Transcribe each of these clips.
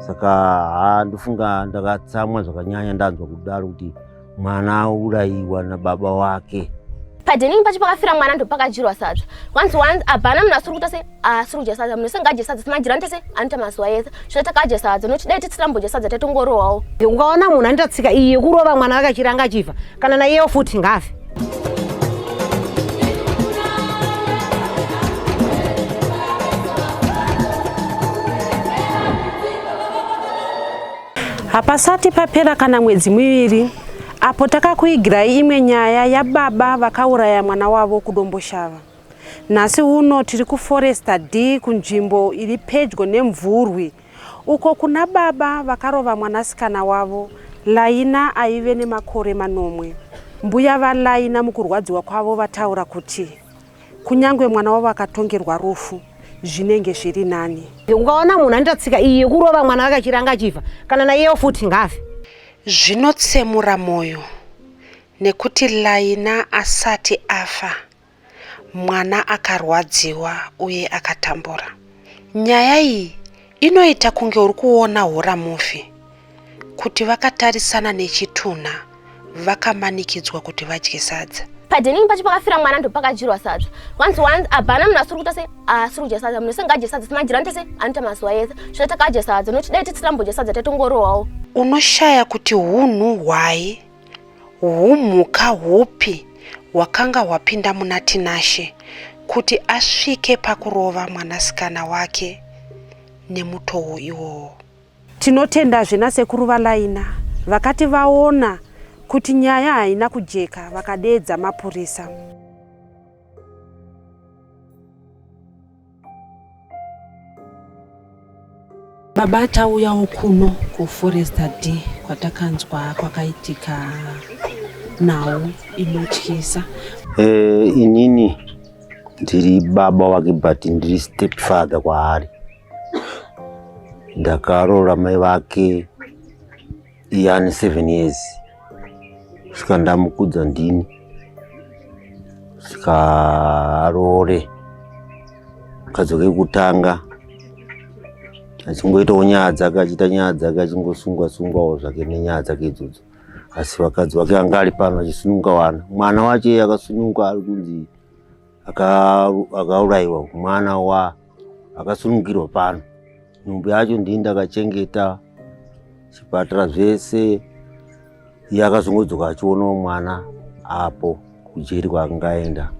saka ha ndofunga ndakatsamwa zvakanyanya ndanzwa kudaro kuti mwana aurayiwa nababa wake padheningi pacho pakafira mwana ndopakajirwa sadza kwanzi wanzi abhana munhu asiri kuita se asiri kudya sadza munhu sengaadye sadza simajirani tese anoita mazuva ese zvino takadya sadza nokuti dai titsirambodya sadza taitongorohwawo ukaona munhu anoita tsika iyi yekurova mwana vakachiranga achifa kana naiyewo futi ngaafe hapasati papera kana mwedzi miviri apo takakuigirai imwe nyaya yababa vakauraya mwana wavo kudomboshava nhasi uno tiri kuforesta d kunzvimbo iri pedyo nemvurwi Uko kuna baba vakarova mwanasikana wavo, Laina aive nemakore manomwe. Mbuya vaLaina mukurwadziwa kwavo vataura kuti, Kunyangwe mwana wavo akatongerwa rufu, zvinenge zviri nani. Ukaona munhu anoita tsika iyi yekurova mwana wake achiranga achifa, kana naiyewo futi ngaafe. Zvinotsemura mwoyo nekuti Laina asati afa, mwana akarwadziwa uye akatambura nyaya iyi inoita kunge uri kuona hora mufi kuti vakatarisana nechitunha vakamanikidzwa kuti vadye sadza padining pacho pakafira mwana ndopakadyirwa sadza once once abhana munhu asiri kuita se asiri kudya sadza munhu ese ngaadye sadza simajirani tese anoita mazuva ese zvino takadya sadza nokuti dai tisirambo dya sadza tatongorohwawo unoshaya kuti hunhu hwai Humhuka hupi hwakanga hwapinda muna Tinashe kuti asvike pakurova mwanasikana wake nemutowo iwowo? Tinotendazve nasekuru Valaina vakati vaona kuti nyaya haina kujeka vakadeedza mapurisa. Baba tauyawo kuno kuforesta d kwatakanzwa kwakaitika nhau inotyisa. Eh, inini ndiri baba wake but ndiri step father kwaari. Ndakaroora mai vake iye ane seven years saka ndamukudza ndini saka aroore kadzoke kutanga achingoitawo nyaya dzake achiita nyaya dzake achingosungwa sungwawo zvake nenyaya dzake idzodzo asi vakadzi vake anga ari pano achisununga wana mwana wacho iye akasununga ari kunzi akauraiwa aka mwana wa akasunungirwa pano nhumbu yacho ndii ndakachengeta chipatara zvese iye akazongodzoka achionawo mwana apo kujeri kwaangaenda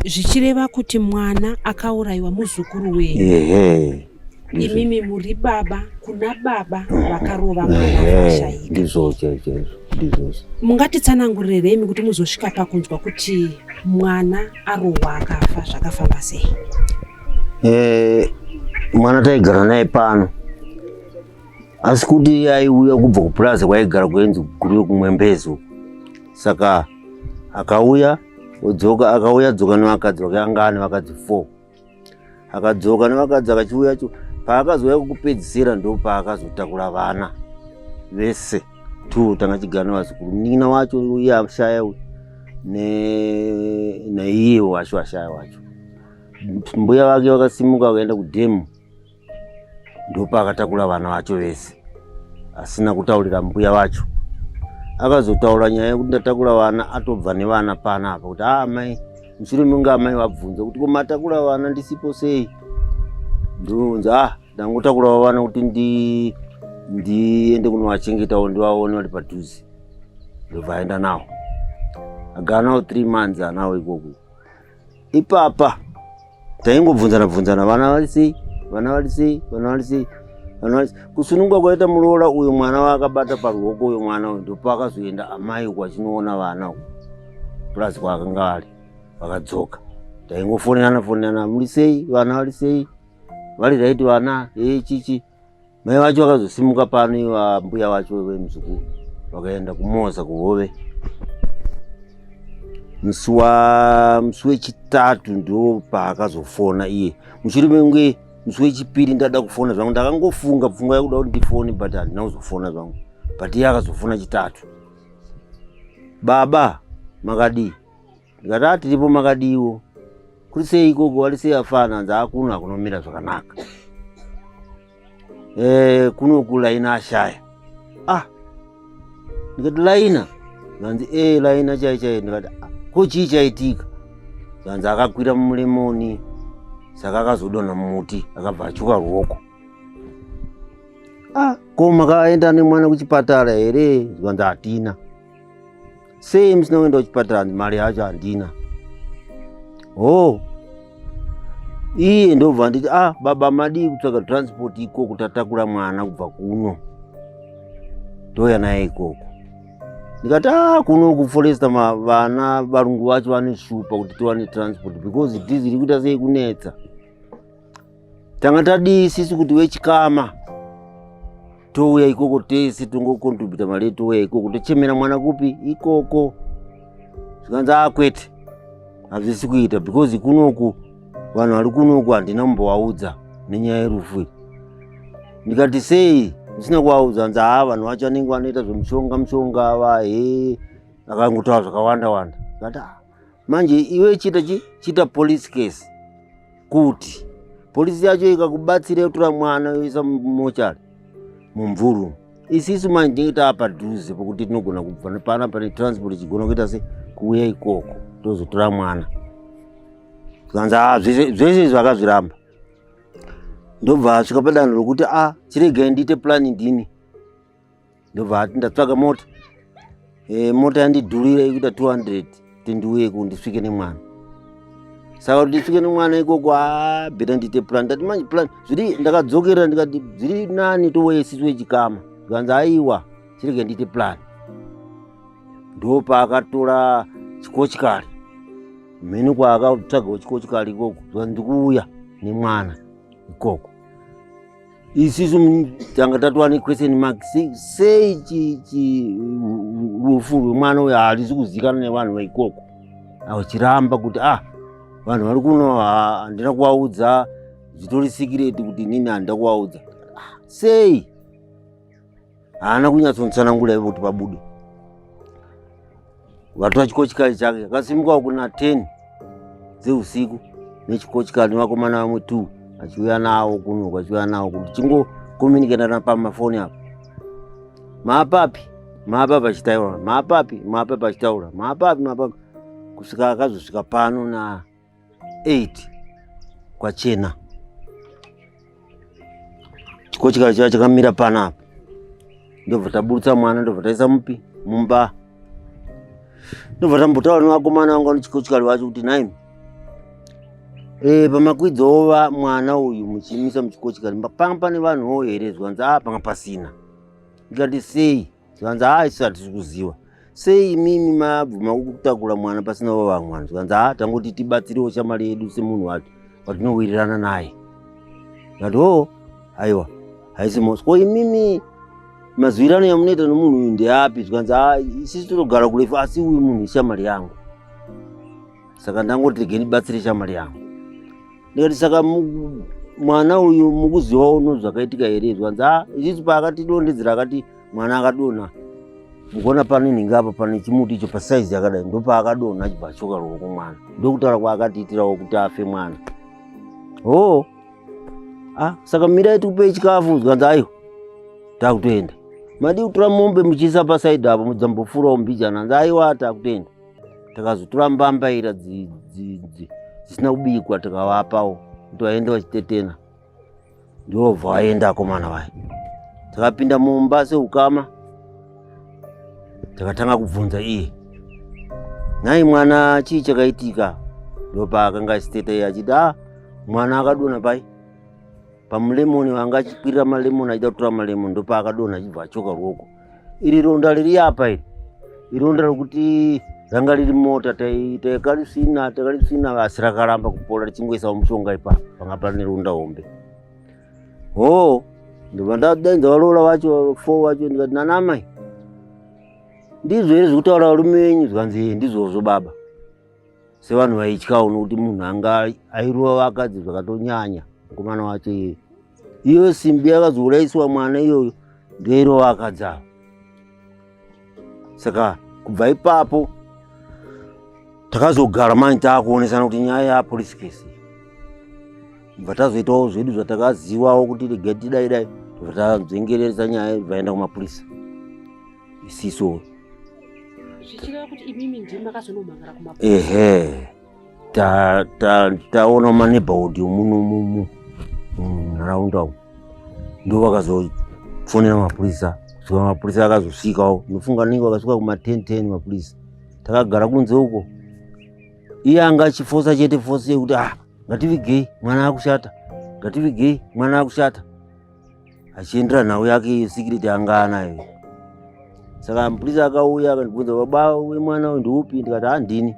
zvichireva kuti mwana akaurayiwa muzukuru wenyu ehe imimi muri baba kuna baba vakarova mwanaaizvozvongatitsanangurirei kuti muzosvika pakunzwa kuti mwana arohwa akafa zvakafamba sei eh, mwana taigara naye pano asi kuti aiuya kubva kupurazi kwaigara kuenzi kuri kumwembezo saka akauya odzoka akauya dzoka nevakadzi vake anga ane vakadzi four akadzoka nevakadzi akachiuya cho paakazouya kukupedzisira ndo paakazotakura vana vese two tanga chigara nevazukuru munin'ina wacho uye ashaya uyu naiye wacho ashaya wacho mbuya vake vakasimuka vakaenda kudhemu ndopaakatakura vana vacho vese asina kutaurira mbuya vacho akazotaura nyaya yekuti ndatakura vana atobva nevana pana apa kuti aa ah, mai mushure menge amai vabvunza kuti komatakura vana ndisipo sei ndinounza a ah, ndangotakurawo vana kuti ndiende kunovachengetawo ndivaone vari padhuze ndobva aenda nawo agara nawo three months anawo ikoko ipapa taingobvunzana bvunzana vana vari sei vana vari sei vana vari sei vana vari kusununguka kwaita muroora uyu mwana waakabata paruoko uyu mwana uyu ndopaakazoenda amai uku achinoona vana uku purazi kwaakanga vari vakadzoka taingofonerana fonerana muri sei vana vari sei vari raiti vana ee chichi Mai vacho vakazosimuka pano iva mbuya vacho vemuzukuru vakaenda kumoza kuhove musi wa musi wechitatu ndo paakazofona iye mushure menge musi wechipiri ndada kufona zvangu ndakangofunga pfungwa yakuda kuti ndifone but handina kuzofona zvangu but iye akazofona chitatu baba makadii ndikati a tiripo makadiiwo kuri sei ikoko wari sei afana hanzi akuno hakunomira zvakanaka e, kuno kulaina ashaya ah ndikati laina zvanzi e eh, laina chai chai ndikati ah, ko chii chaitika zvanzi akakwira mumuremoni saka akazodonha mumuti akabva achuka ruoko ah ko makaenda nemwana kuchipatara here zvanzi hatina sei musina kuenda kuchipatara handi mari yacho handina hoo iye ndobva nditi ah baba madii kutsvaga transport ikoko tatakura mwana kubva kuno ndouya naye ikoko ndikati ah kuno kuforesta vana varungu vacho vanoshupa kuti tiwane transport because it is iri kuita sei kunetsa tanga tadii sisi kuti vechikama touya ikoko tese tongokontribhuta mari touya ikoko tochemera mwana kupi ikoko zvikanzi akwete ah, hazvisi kuita because kunoku vanhu vari kunoku handina mumbovaudza nenyaya yerufu iyi ndikati sei ndisina kuvaudza hanzi haa vanhu vacho anenge vanoita zvemushonga mushonga ava he akangotaura zvakawanda wanda kati ah, manje iwe chita chita police case kuti polisi yacho ikakubatsira yotora mwana yoisa mumochari mumvuru isisu manje tinenge taapadhuze pokuti tinogona kubva nepana pane transport ichigona kuita se kuuya ikoko tozotora mwana zvanzi a ah, zvese izvi akazviramba ndobva asvika padanho rokuti a ah, chiregai ndiite plani ndini ndobva hati ndatsvaga mota e, mota yandidhurira ikuita 200 tindiuye ku ndisvike nemwana saka kuti ndisvike nemwana ikoko abheta ndiite plan ndati manje plan zviri ndakadzokera ndikati zviri nani tovoye sisi wechikama zvikanzi aiwa chirege ndiite plan ndopaakatora chikochikari mheni kwaakatsvagawo chikochikari ikoko zvikanzi ndikuuya nemwana ikoko isisu tanga tatova nequestion mark sei rufu rwemwana uyo harizi kuzikana nevanhu vaikoko vachiramba kuti ah vanhu vari kuno handina kuvaudza zvitori sikireti kuti nini handina kuvaudza ah, sei haana kunyatsonitsanangura ivo kuti pabude vatora chikochikari chake akasimukawo kuna ten dzeusiku nechikochikari nevakomana vamwe two achiuya nawo kuno kwachiuya nawo kuti chingokomuniketana pamafoni apo maapapi maapapi achitaura maapapi maapapi achitaura maapapi maapapi kusvika akazosvika pano na 8 kwachena chiko chikava chiva chakamira pana apa ndobva taburutsa mwana ndobva taisa mupi mumba ndobva tambotaura nevakomana vanga nechikochikari vacho kuti nhaimi e, eh, pamakwidzova mwana uyu muchimisa muchikochikari panga pane vanhuwo here zvanzi a ah, panga pasina ndikati sei zvikanzi haa isu hatisi kuziva sei imimi mabvuma kutakura mwana pasina vavamwe vanhu zvikanzi haa tangoti tibatsirewo shamari yedu semunhu wacho watinowirirana naye ndati oo oh, aiwa haisi mosi ko imimi mazwirano yamunoita nomunhu uyu ndeapi zvikanzi haa isisi tinogara kurefu asi uyu munhu ishamari yangu saka ndangoti rege ndibatsire shamari yangu ndikati saka mwana uyu mukuziva uno zvakaitika here zvanzi a ah, ichichi paakatidondedzera akati mwana akadonha mukuona pane nhingi apa pane chimuti icho pasaizi yakadai ndopaakadonha achibva achoka ruoko mwana ndokutaura kwaakatiitirawo kuti afe mwana hoo a ah, saka mirai tikupei chikafu zvanzi aiwa takutoenda madii kutora mombe muchiisa pasaidi apo mudzambofurawo mbijana nzi aiwa takutoenda takazotora mbambaira dzisina kubikwa tikavapawo kuti vaende vachitetena ndovha vaenda akomana vaya takapinda mumba seukama takatanga kubvunza iye nhai mwana chii chakaitika ndopaakanga achiteta iye achiti a ah, mwana akadona pai pamulemoni vanga achikwirira malemoni achida kutora malemoni ndopaakadona achibva achoka ruoko iri ronda riri apa iri ironda rokuti ranga riri mota takarisina takarisina asi rakaramba kupola richingoisawo mushonga ipa panga pane ronda hombe hoo ndobva ndadenza varoora vacho fo vacho ndikati nanamai ndizvo here zvekutaura varume venyu zvikanzi ndizvozvo baba sevanhu vaityawo nokuti munhu anga airova vakadzi zvakatonyanya mukomana wacho iyeyo iyo simbi yakazouraisiwa mwana iyoyo ndoirova vakadzi avo saka kubva ipapo takazogara mani taakuonesana kuti nyaya yapolice case bva tazoitawo zvedu zvatakazivawo kuti regai tidai dai bva tanzengereresa nyaya vaenda kumapurisa isiso zvichireva kuti imimi ndimi makazonomhangara kuma ehe ta ta taona maneighborhood muno mumu munharaunda umu ndo vakazofonera mapurisa saka mapurisa akazosvikawo ndofunga ninge vakasvika kuma ten ten mapurisa takagara kunze uko iye anga achifosa chete fosi yekuti ah ngativigei mwana akushata ngativigei mwana akushata achiendera nhau yake iyo secret yanga anayo saka mupurisa akauya akandibvunza baba wemwana uyu ndiupi ndikati handini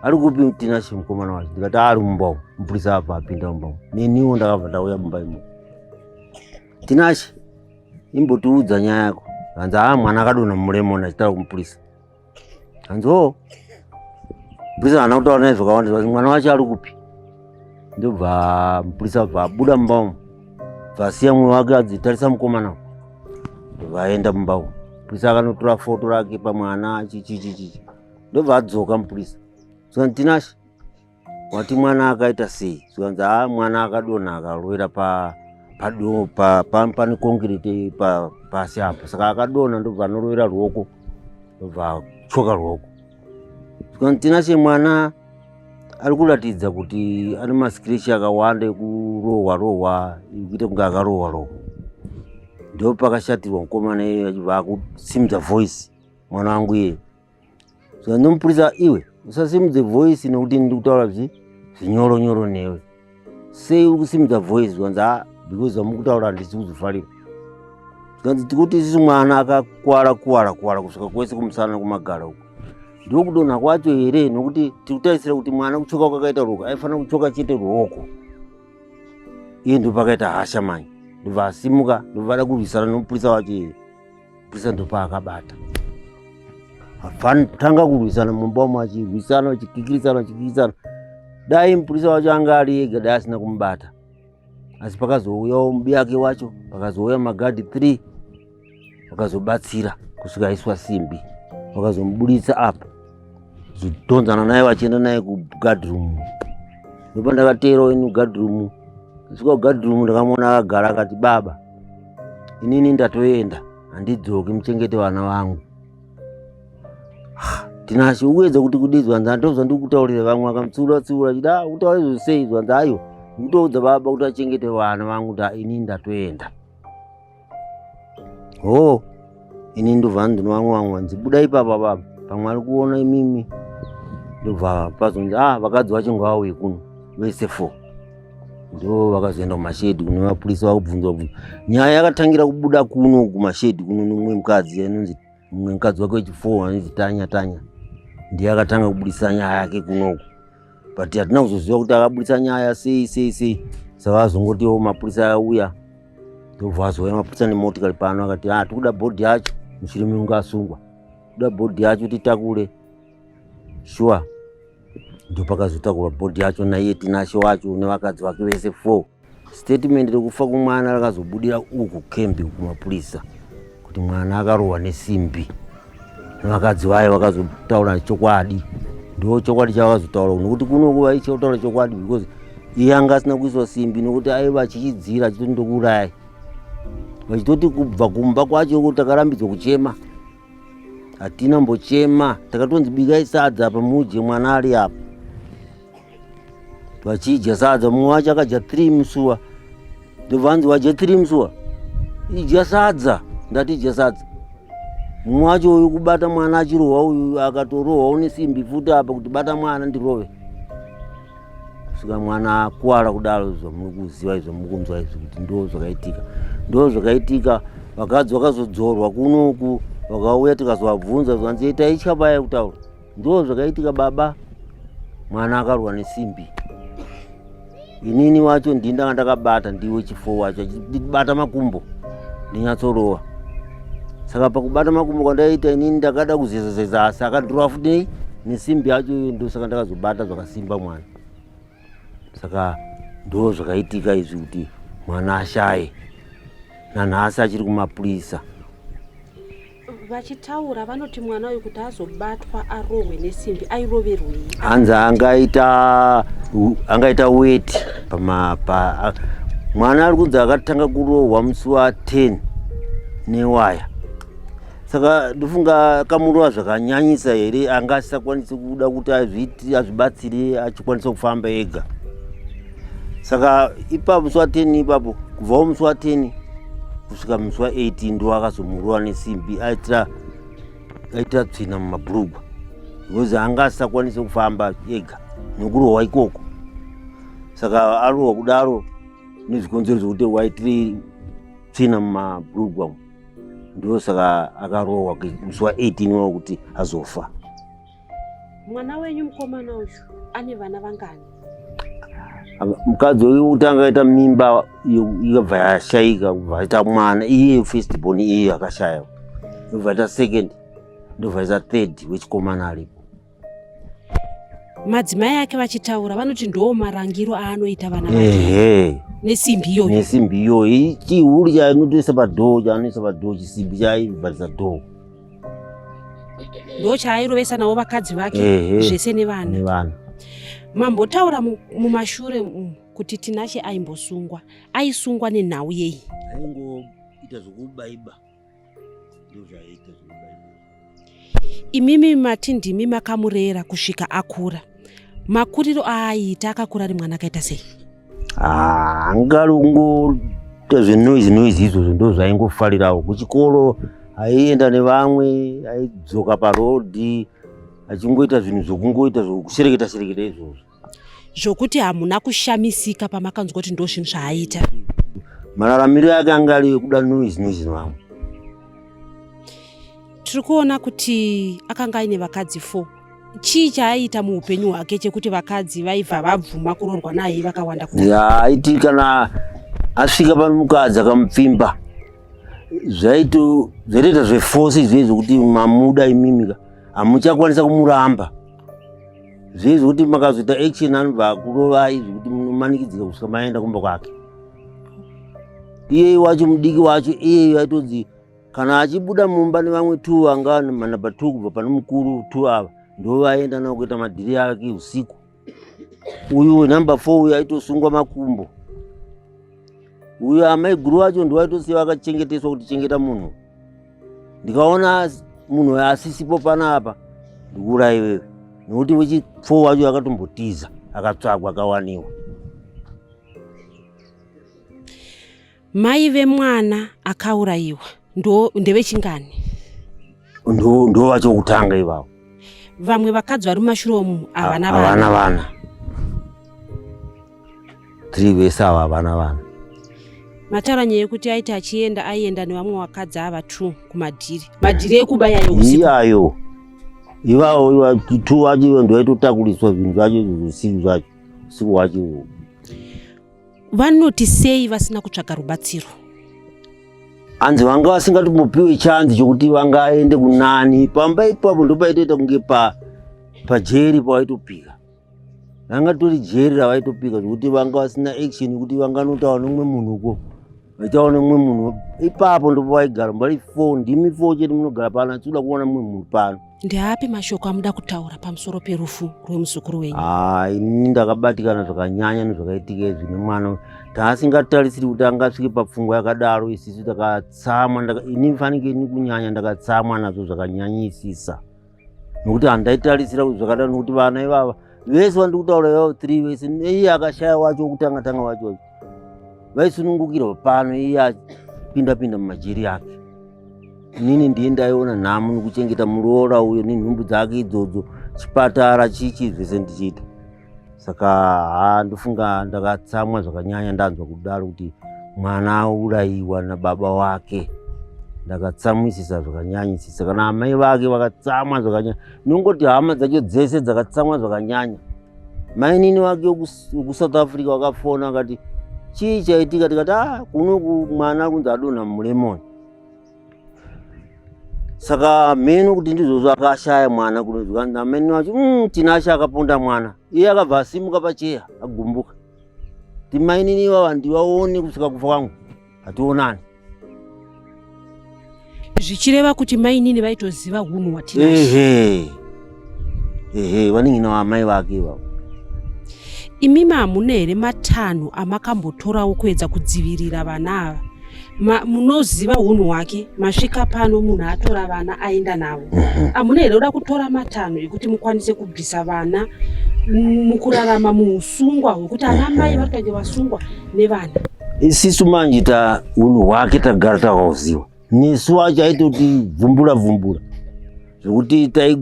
ari kupi tinashe mukomana wacho ndikati ari mumba umu mupurisa apa apinda mumba umu neniwo ndakabva ndauya mumba imo tinashe imbotiudza nyaya yako hanzi haa mwana akadonha muremoni achitaura kumupurisa hanziwo mupurisa haana kutaura naye zvakawanda zvati mwana wacho ari kupi ndobva mupurisa bva abuda mumba umu bvasiya mumwe wake adzitarisa mukomana vaenda mumba umu mupurisa akanotora foto rake pamwana chichichichichi ndobva adzoka mupurisa zvantinashe wati mwana akaita sei zvikanzi ha mwana akadonha akalwira pa pado pa pa pane concrete pa pasi apo saka akadonha ndobva anorovera ruoko ndobva choka ruoko zvikanzi tina che mwana ari kuratidza kuti ane mascratch akawanda ekurohwa rohwa ekuita kunge akarohwa rohwa ndopakashatirwa mukomana iye achibva akusimudza voice mwana wangu iye saka ndomupurisa iwe usasimudze voice nokuti ndi kutaura zvi zvinyoro nyoro newe sei uri kusimudza voice zvanzi ha ah, because zvamukutaura handisi kuzvifarira zvikanzi tikuti isisi mwana akakwara kuwara kuwara kusvika kwese kumusana kumagara uku ndiko kudonha kwacho here nokuti tiri kutarisira kuti mwana kuchoka kwakaita ruoko aifanira kuchoka chete ruoko iye ndopakaita hasha mani ndobva asimuka ndobva ada kurwisana nomupurisa wacho iye Bwiza ndopaakabata hapana kutanga kurwisana mumba umo achirwisana achikikirisana achikikirisana dai mupurisa wacho anga ari ega dai asina kumubata asi pakazouyawo mubiyake wacho pakazouya magadhi three vakazobatsira kusvika aiswa simbi vakazomuburitsa apa zodhonzana naye vachienda naye kugadroom ndopa ndakateerawo ini kugadroom kusvika kugadroom ndakamuona akagara akati baba inini ndatoenda handidzoki muchengete vana vangu tinashe uedza kuti kudii zvanzi andozva ndiri kutaurira vamwe vakamutsiura tsiura chida ah, kutaura izvo sei zvanzi ayo ndikutoudza baba kuti achengete vana vangu kuti inini ndatoenda hoo oh. ini ndobva ndinowanwanwa nzi buda ipapa baba pamwe ari kuona imimi ndobva pazonzi ah vakadzi vacho ngavauye kuno vese four ndo vakazoenda kumashedi kune vapurisa vakubvunzwa bvunza nyaya yakatangira kubuda kuno kumashedi kuno nomumwe mukadzi anonzi mumwe mukadzi wake wechifour anonzi tanya tanya ndiye akatanga kubudisa nyaya yake kunoku but hatina kuzoziva kuti akaburitsa nyaya sei sei sei saka azongotiwo mapurisa auya ndobva azouya mapurisa nemotikari pano akati ha ah, tikuda bhodhi yacho mushure mekunge asungwa tikuda bhodhi yacho titakure shuwa ndopakazotakura bhodhi yacho naiye tinashe wacho nevakadzi vake vese four Statement rekufa kumwana rakazobudira uku kembi kumapurisa kuti mwana akarohwa nesimbi nevakadzi vaye vakazotaura chokwadi ndo chokwadi chavakazotaura nokuti kuno nguva ichiotaura chokwadi because iye anga asina kuiswa simbi nokuti aiva achichidzira achitoti ndokuurayi vachitoti kubva kumba kwacho takarambidza kuchema hatina mbochema takatonzi bikai sadza apa mudye mwana ari apa vachidya sadza mumwe wacho akadya three musuwa ndovanzi wadya three musuwa idya sadza ndati idya sadza mumwe wacho uyu kubata mwana achirohwa uyu akatorohwa une simbi futi apa kuti bata mwana ndirove kusvika mwana akuwara kudaro izvo muri kuziva izvo muri kunzwa izvi kuti ndo zvakaitika ndo zvakaitika vakadzi vakazodzorwa kunoku vakauya tikazovabvunza zvanzi itai chabaya kutaura ndo zvakaitika baba mwana akarwa nesimbi inini wacho ndini ndanga ndakabata ndiwe chifo wacho achibata makumbo ndinyatsorova saka pakubata makumbo kwandaita inini ndakada kuzezazeza asi akadhurwa futi nei nesimbi yacho iyo ndosaka ndakazobata zvakasimba mwana saka ndo zvakaitika izvi kuti mwana ashaye nanhasi achiri kumapurisa vachitaura vanoti kuti mwana uyu kuti azobatwa arohwe nesimbi airoverwei hanzi angaita angaita weti pamapa mwana ari kunzi akatanga kurohwa musi wa 10 newaya saka ndofunga kamurowa zvakanyanyisa here anga asisakwanisi kuda kuti azviti azvibatsire achikwanisa kufamba ega saka ipapo musi wa 10 ipapo kubvawo musi wa 10 kusvika musi wa 18 ndoakazomurowa nesimbi aitira aita tsvina mumabhurugwa because anga asisakwanise kufamba ega nekurohwa ikoko saka arohwa kudaro nezvikonzero zvekuti waitiri tsvina mumabhurugwa umu ndosaka akarohwa musi wa 18 wakuti azofa Mwana wenyu mukomana uyu ane vana vangani? Mukadzi uyu utanga aita mimba ikabva yashaika kubva aita mwana iye first born iye akashaya ndobva aita second ndobva aita third wechikomana aripo. Madzimai ake vachitaura vanoti ndoo marangiro aanoita vana vake nesimbi iyoyo nesimbi iyoyo chihuri chaanotoisa padhoo chaanoisa padhoo chisimbi chaibvarisa dhoo ndochaairovesa navo vakadzi vake zvese nevana mambotaura mumashure umu kuti tinashe aimbosungwa aisungwa nenhau yei aingoita zvokubaiba ndozvaiita zvokubaiba imimi mati ndimi makamurera kusvika akura makuriro aaiita akakura ari mwana akaita sei Ah, angalungu zvenoise noise izvozvo ndo zvaingofarirawo kuchikoro aienda nevamwe aidzoka parodhi achingoita zvinhu zvokungoita zvokushereketa shereketa izvozvo zvokuti hamuna kushamisika pamakanzwa kuti ndo zvinhu zvaaita mararamiro ake anga ari ekuda noise noise nevamwe tiri kuona kuti akanga aine vakadzi four chii chaaiita muupenyu hwake chekuti vakadzi vaibva vabvuma kuroorwa naye vakawanda aiti kana asvika pamukadzi akamupfimba zvaitoita zvefosi izvei zvokuti mamuda imimika hamuchakwanisa kumuramba zvei zvokuti makazoita action anobva akurovai zvekuti munomanikidzika kusvika maenda kumba kwake iyeye wacho mudiki wacho iyeye aitonzi kana achibuda mumba nevamwe two vanga manumber two kubva pane mukuru two ava ndo vaenda navo kuita madhiri ake usiku uyu wenumber four uyu aitosungwa makumbo uyu amaiguru vacho ndivaitosiya vakachengeteswa kuti chengeta munhu ndikaona munhu asisipo panapa ndikuura iwewe nekuti wechifo wacho akatombotiza akatsvagwa akawaniwa Mai vemwana akaurayiwa ndo ndevechingani? Ndo ndo vacho kutanga ivavo. Vamwe vakadzi vari mumashure umu havana vana. Havana vana. Three vese ava havana vana. Mataura nyaya yekuti aiti achienda aienda nevamwe vakadzi ava two kumadhiri. Madhiri ekuba yayo usiku. Iyayo. Ivavo iva two vacho ndo vaitotakuriswa zvinhu zvacho zvisinhu zvacho usiku hwacho. vanoti sei vasina kutsvaga rubatsiro hanzi vanga vasingatomopiwe chanzi chokuti vangaende kunani pamba ipapo ndopaitoita kunge pa pajeri pavaitopika vanga tori jeri ravaitopika zvokuti vanga vasina action yekuti vanganotaura nomumwe munhu ko vaitaona umwe munhu ipapo ndipo vaigara mbari fo ndimi fo chete munogara pano achida kuona mumwe munhu pano ndeapi mashoko amuda kutaura pamusoro perufu rwemuzukuru wenyu haa ini ndakabatikana zvakanyanya nezvakaitika izvi nemwana taasingatarisiri kuti angasvike papfungwa yakadaro isisu takatsamwa ini fanike ini kunyanya ndakatsamwa nazvo zvakanyanyisisa nokuti handaitarisira kuti zvakadaro nokuti vana ivava vese vandiri kutaura ivavo three vese iye akashaya wacho wokutanga tanga wacho wacho vaisunungukirwa pano iye apinda pinda mumajeri yake inini ndiye ndaiona nhamo nokuchengeta muroora uyo nenhumbu dzake idzodzo chipatara chichi zvese ndichiita saka ha ndofunga ndakatsamwa zvakanyanya ndanzwa kudaro kuti mwana aurayiwa nababa wake ndakatsamwisisa zvakanyanyisisa kana amai vake vakatsamwa zvakanyanya nongoti hama dzacho dzese dzakatsamwa zvakanyanya mainini wake wekusouth africa wakafona akati chii chaitika tikati a ah, kunoku mwana kunzi adonha mulemoni saka mheno kuti ndizvozvo akashaya mwana kunonzwa namene wacho mm, tinashe akaponda mwana iye akabva asimuka pacheya agumbuka timainini ivava ndivaone kusvika kufa kwangu hationani zvichireva kuti mainini vaitoziva hunhu hwatinashe ehe vanin'ina vaamai vake ivavo imimi hamuna here matanho amakambotorawo kuedza kudzivirira vana ava Ma- munoziva unhu hwake masvika pano munhu atora vana aenda navo Mhm. hamuna here kuda kutora matanho ekuti mukwanise kubvisa vana mm, mukurarama muusungwa hwekuti ana mai vari kutange vasungwa nevana isisu manje ta unhu hwake tagara takahuziva Misu wacho aitoti bvumbura bvumbura zvekuti tai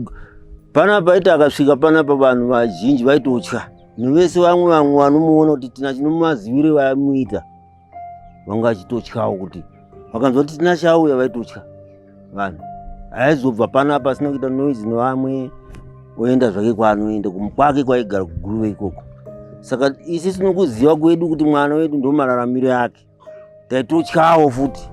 panapa aiti akasvika panapa vanhu vazhinji vaitotya nevese vamwe vamwe vanomuona kuti tina chinomazivire vamuita vanga achitotyawo kuti vakanzwa kuti tina chauya vaitotya vanhu aizobva panapa asina kuita noise nevamwe oenda zvake kwaanoenda kwake kwaigara kuguruve ikoko saka isi tinokuziva kwedu kuti mwana wedu ndomararamiro yake taitotyawo futi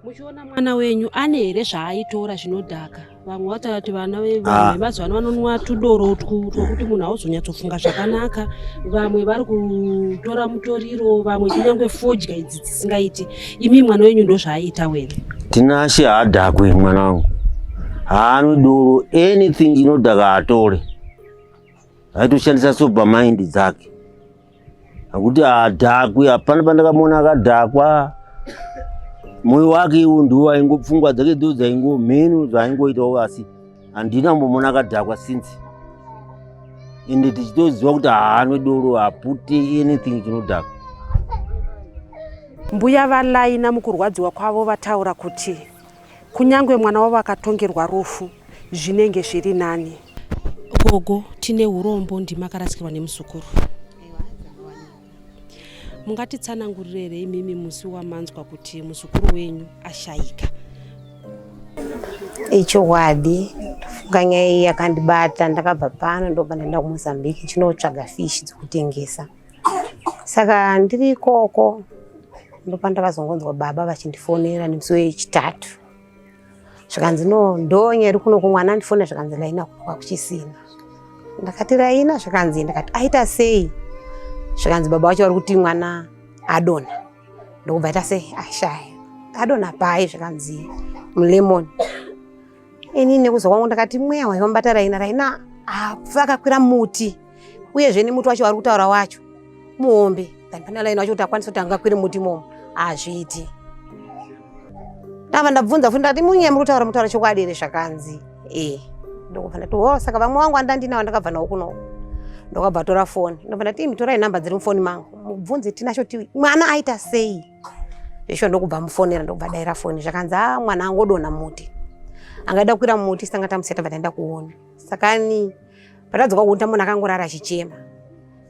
muchiona mwana wenyu ane here zvaaitora zvinodhaka vamwe vataura kuti vana ah. vemazuva ano vanonwa tudoro twokuti munhu hauzonyatsofunga zvakanaka vamwe vari kutora mutoriro vamwe kunyange fodya idzi dzisingaiti imi mwana wenyu ndo zvaaiita wene tinashe haadhakwe mwana wangu haanwe doro anything inodhaka atore aitoshandisa sober mind dzake akuti haadhakwi hapana pandakamuona akadhakwa moyo wake iwo ndiwo aingo pfungwa dzake dzo dzaingo mhenu zvaingoitawo asi handina mbomona akadhakwa since ende tichitoziva kuti haanwe doro hapute anything chinodhaka mbuya valaina mukurwadziwa kwavo vataura kuti Kunyangwe mwana wavo akatongerwa rufu zvinenge zviri nani. Gogo tine urombo ndima akarasikirwa nemuzukuru. Mungatitsanangurire here imimi musi wamanzwa kuti muzukuru wenyu ashaika? Ichokwadi funga nyaya iyi yakandibata ndakabva pano ndobva ndaenda kuMozambique chinotsvaga fish dzekutengesa. saka ndiri ikoko ndopandakazongonzwa baba vachindifonera nemusi wechitatu zvikanzi no ndonye iri kuno kumwana andifonera zvikanzi raina kunoka kuchisina ndakati raina zvikanzi ndakati aita sei zvikanzi baba vacho vari kuti mwana adona ndokubva aita sei ashaya adona pai zvikanzi mulemoni ini nekuza kwangu ndakati mweya wayo mbata raina raina apfa ah, akakwira muti uyezve nemuti wacho wari kutaura wacho muhombe than pane raina wacho kuti akwanisa kuti angakwire muti momo hazviiti ndava ndabvunza futi ndati munye muri kutaura mutaura chokwadi here zvakanzi e ndokubva ndati o saka vamwe wangu andandinawo ndakabva nawo kuno ndokabva tora foni ndobva ndati imi torai nhamba dziri mufoni mangu mubvunze tinacho ti mwana aita sei ndisho ndokubva mufonera ndokubva daira foni zvakanzi a ah, mwana angodonha muti angaida kukwira muti sanga tamuseta bva taenda kuona saka ni patadzoka kuona tamona akangorara achichema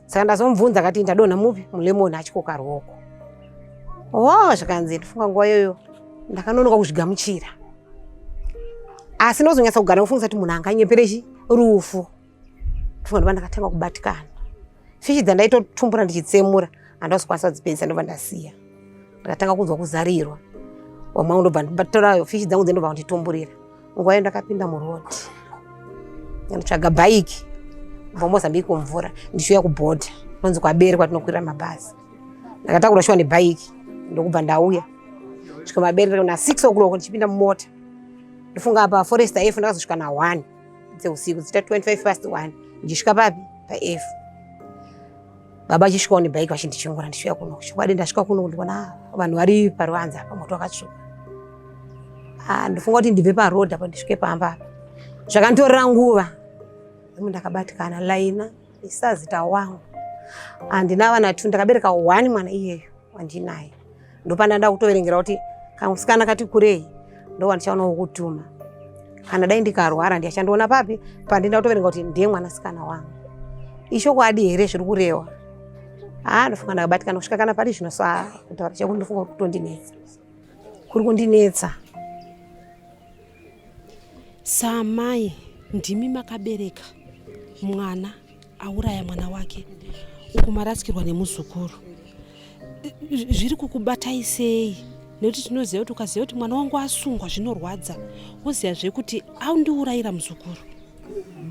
saka ndazomubvunza akati ndadonha mupi mulemoni achikoka ruoko wo zvakanzi ndofunga nguva iyoyo ndakanonoka kuzvigamuchira asi ndozonyatsa kugara kufungisa kuti munhu anganyepere chi rufu ndovanova ndakatanga kubatikana fishi dzandaitotumbura ndichitsemura handausi kwanisa kudzipedzisa ndobva ndasiya ndakatanga kunzwa kuzarirwa wamwe ndobva ndibatorayo fishi dzangu dzendobva kunditumburira nguva yo ndakapinda muroad ndotsvaga bhaiki bva mozambique kumvura ndichiuya kubhodha nonzi kwabere kwatinokwirira mabhazi ndakatakura shuwa nebhaiki ndokubva ndauya svika mabere na six o'clock ndichipinda mumota ndofunga apa forest ayefu ndakazosvika na one dzeusiku dzita 25 past 1 ndisvika papi paef baba achisvikawo nebhaiki vachindichongora ndisvika kuno chokwadi ndasvika kuno ndikuona ah, vanhu vari paruanza apa moto wakatsvuka ah, ndofunga kuti ndibve paroad apo ndisvike pamba apa zvakanditorera nguva imu ndakabatikana laina isazita wangu handina vana two ndakabereka one mwana iyeyo wandinaye ndopanda nda kutoverengera kuti kamusikana kati kurei ndowandichaona wokutuma kana dai ndikarwara ndiyachandiona papi pandinda kutoverenga kuti ndiye mwanasikana wangu ishokwadi here zviri kurewa haa ndofunga ndakabatikana kusvika kana pari zvino saa kutaura chakuti ndofunga kutondinetsa kuri kundinetsa saamai ndimi makabereka mwana auraya mwana wake uku marasikirwa nemuzukuru zviri kukubatai sei nekuti tinoziva kuti ukaziva kuti mwana wangu asungwa zvinorwadza woziva zvekuti aundiurayira muzukuru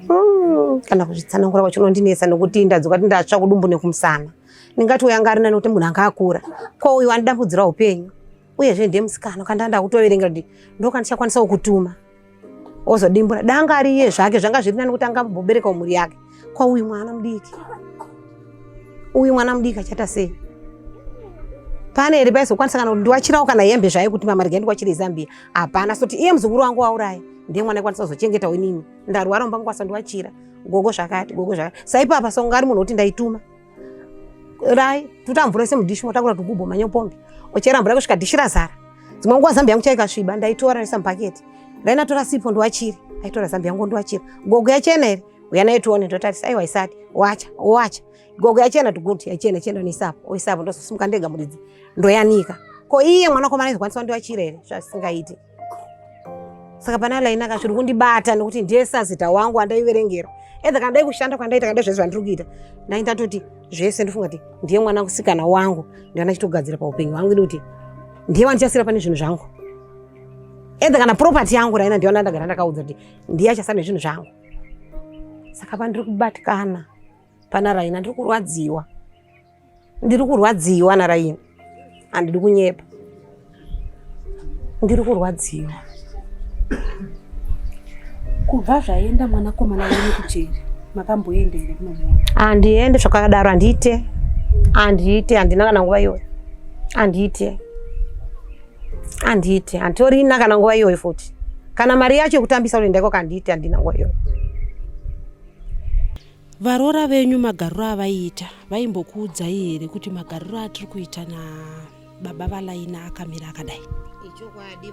mm, kana kuzvitsanangura kwacho unondinetsa nekuti ndadzoka ti ndatsva kudumbu nekumusana ndingati uyo anga arina nekuti munhu anga akura ko uyo andidambudzira upenyu uyezve ndiye musikana kandanda kutoverenga kuti ndokandichakwanisa kukutuma ozodimbura danga ari iye zvake zvanga zviri nani kuti anga amboberekawo mhuri yake kwa uyu mwana mudiki uyu mwana mudiki achaita sei pane here paizokwanisa kana kuti ndiwachirawo kana hembe zvaye kuti mama regai ndiwachire izambiya hapana soti iye muzukuru wangu wauraya ndiye mwana ikwanisa kuzochengetawo inini ndarwara umba mukwanisa ndiwachira gogo zvakati gogo zvakati saipapa songa ari munhu woti ndaituma rai tuta mvura ise mudishi motakura tugubo manyopombi ochera mvura kusvika dishi razara dzimwe nguva zambi yangu chaikasviba ndaitora risa mubhaketi rainatora sipo ndiwachiri aitora zambi yangu ndiwachira gogo yachena here uya naye tione ndotarisa aiwa isati wacha wacha gogo yachena tuguti yachena chenda noisapo oisapo ndozosimuka ndega muridzi ndoyanika ko iye mwanakomana aizokwanisa ndiwachira here zvasingaiti saka pane line aka zviri kundibata nekuti ndiye sazita wangu andaiverengera edha kana dai kushanda kwandaita kana dai zvese zvandiri kuita ndai ndatoti zvese ndofunga kuti ndiye mwana kusikana wangu ndana chitogadzira paupenyu hwangu ini kuti ndiye wandichasira pane zvinhu zvangu edha kana property yangu raina ndiona ndagara ndakaudza kuti ndiye achasara nezvinhu zvangu saka pandiri kubatikana pana raina ndiri kurwadziwa ndiri kurwadziwa naraini handidi kunyepa ndiri kurwadziwa kubva zvaenda mwanakomana wenyu kujeri makamboenda here kunomuona handiende zvakadaro handiite handiite handina kana nguva iyoyo handiite handiite handitorina kana nguva iyoyo futi kana mari yacho yekutambisa unoenda ikoko handiite handina nguva iyoyo Varoora venyu magariro avaiita vaimbokuudzai here kuti magariro atiri kuita nababa valaina akamira akadai?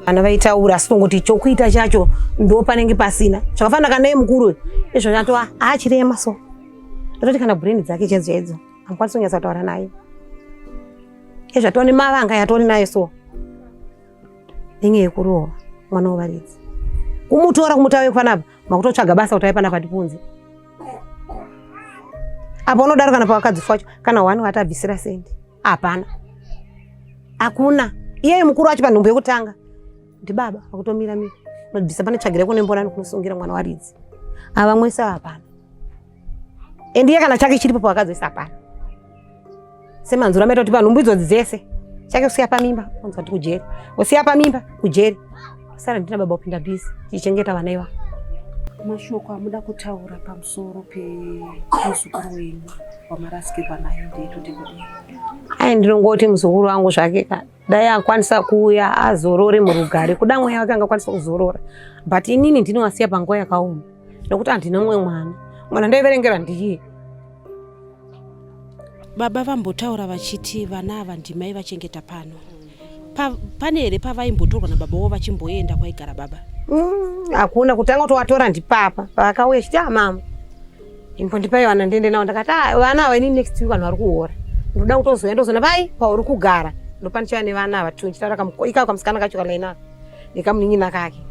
vana vaitaura asi tongoti chokuita chacho ndo panenge pasina zvakafanira kana mukuru izvo atova achirema so ndototi kana brain dzake chedzo edzo amukwanisa kunyatsa kutaura naye ezvatova nemavanga yatoni nayo so nenyaya yekurova mwana wevaridzi kumutora kumutava yekufanapa makutotsvaga basa kuti aipana kwatipunzi apa unodaro kana pawakadzifa wacho kana wani watabvisira sendi hapana hakuna iyeye mukuru wacho panhumbu yekutanga ndibaba akutomira mira unobvisa pane tsvagire kune mbonani kunosungira mwana waridzi avamwese hapana endiye kana chake chiripo pawakazoisa pano semanzura maita kuti panhumbu idzodzi dzese chake kusiya pamimba onzwa kuti kujeri usiya pamimba kujeri sara ndina baba kupinda bhizi tichichengeta vana iva mashoko amuda kutaura pamusoro pemuzukuru wenyu wamarasikirwa nayo ndeyetoti kudii ayi ndinongoti muzukuru wangu zvake kana dai akwanisa kuuya azorore murugare kuda mweya wake angakwanisa kuzorora but inini ndinowasiya panguva yakaoma nokuti handina mumwe mwana mwana ndaiverengera ndiye baba vambotaura vachiti vana ava ndimai vachengeta pano pa, pane here pavaimbotorwa nababa wavo vachimboenda kwaigara baba mm, hakuna mm, kutanga kuti watora ndipapa pavakauya chiti amama ah, imbondipai vana ndiende navo ndakati ah, vana ava ini next week vanhu vari kuhora ndoda kutozouya ndozoona pai pauri kugara ndopanichava nevana ava two ndichitaura ikako kamusikana kacho kalaina nekamunin'ina kake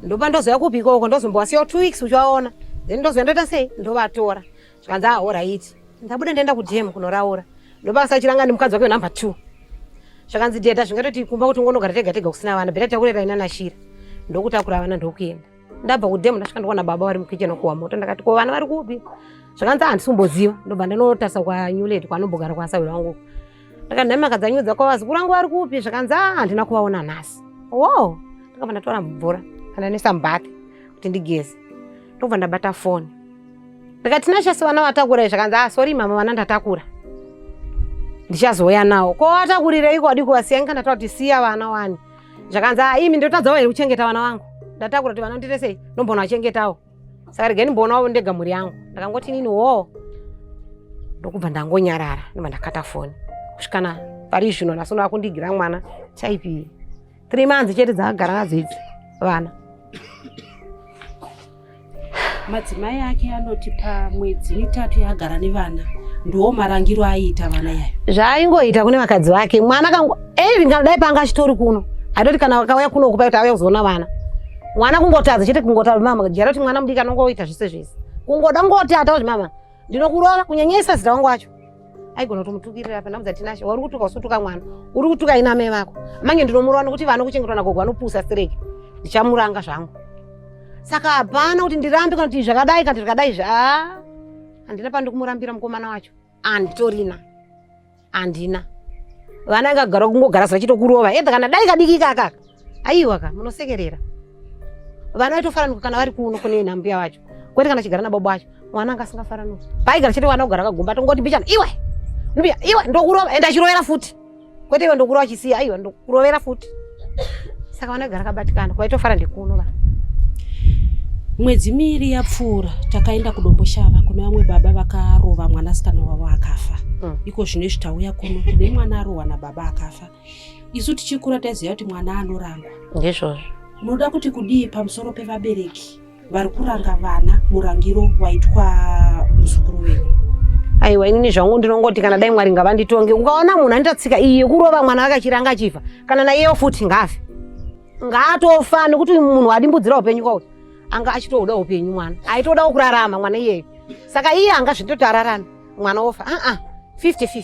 ndopa ndozouya kupi ikoko ndozombowasiyawo two weeks uchivaona then ndozouya ndoita sei ndovatora zvikanzi ah horaiti ndabuda ndaenda kudm kunoraura ndopa kasachiranga nemukadzi wake wenumber two zvakanzi deda zvingatoti kumba kuti ungonogara tega tega kusina vana beta takurera ina nashira ndokutakura vana ndokuenda ndabva kudhemu ndasvika ndikuona baba vari mukicheni kuwa moto ndakati ko vana vari kupi zvakanzi handisi kumboziva ndobva ndanotarisa kwanyuleti kwanombogara kwasawi vangu ndakati nhai makadzanyudza kwavazukuru vangu vari kupi zvakanzi a ah, handina kuvaona nhasi wo ndakabva ndatora mvura kana nesambati kuti ndigeze ndobva ndabata foni ndikati tinashasi vana vatakura zvakanzi a ah, sori mama vana ndatakura ndichazouya nawo ko vatakurirei kwadi kuvasiya ngikandataura kuti siya vana wani zvakanzi ah, imi ndotadzawo here kuchengeta vana vangu ndatakura kuti vana ndite sei ndombona vachengetawo saka regeni mbonawo ndega mhuri yangu ndakangoti nini woo ndokubva ndangonyarara ndobva ndakata foni kusvikana pari zvino nhasi unova kundigira mwana chaipi three months chete dzakagara nadzo idzi vana madzimai ake anoti pamwedzi mitatu yaagara nevana ndiwo marangiro aiita vana yayo zvaaingoita kune vakadzi vake mwana kangu even eh, kana dai panga achitori kuno aitoti kana vakauya kuno kupa kuti auya kuzoona vana mwana kungotadza chete kungotadza mama jara kuti mwana mudiki anongoita zvese zvese kungoda kungoti atauzvi mama ndinokurova kunyanyisa zita wangu wacho aigona kutomutukirira apa ndamudza tinashe wauri kutuka usutuka mwana uri kutuka ina amai vako mange ndinomurova nokuti vana kuchengetwa nagogo vanopusa sireki ndichamuranga zvangu saka hapana kuti ndirambe kana kuti zvakadai kana zvakadai zva handina pandi kumurambira mukomana wacho anditorina handina vana ingagara kungogara sachitokurova edha kana dai kadiki kakaka aiwa ka munosekerera vana vaitofaranuka kana vari kuno kune nambuya wacho kwete kana chigara nababa wacho mwana anga asingafaranuki paigara chete vana kugara kagomba tongoti bichana iwe mbuya iwe ndokurova ende achirovera futi kwete iwe ndokurova chisiya aiwa ndokurovera futi saka vana kugara kabatikana kwaitofara ndikuno va mwedzi miiri yapfuura takaenda kudomboshava kune vamwe baba vakarova mwanasikana wavo akafa mm. iko zvino izvi tauya kuno kune mwana arohwa nababa akafa isu tichikura taiziva kuti mwana anorangwa ndizvozvo unoda kuti kudii pamusoro pevabereki vari kuranga vana murangiro waitwa muzukuru wenyu aiwa inini zvangu ndinongoti kana dai mwari ngavanditonge ukaona munhu anoita tsika iyi yekurova mwana wake achiranga achifa kana naiyewo futi ngaafe ngaatofa nekuti munhu adimbudzira upenyu kwauti anga achitoda upenyu mwana aitodawo kurarama mwana iyeyo saka iye anga zvitoti ararame mwana wofa aa 50 50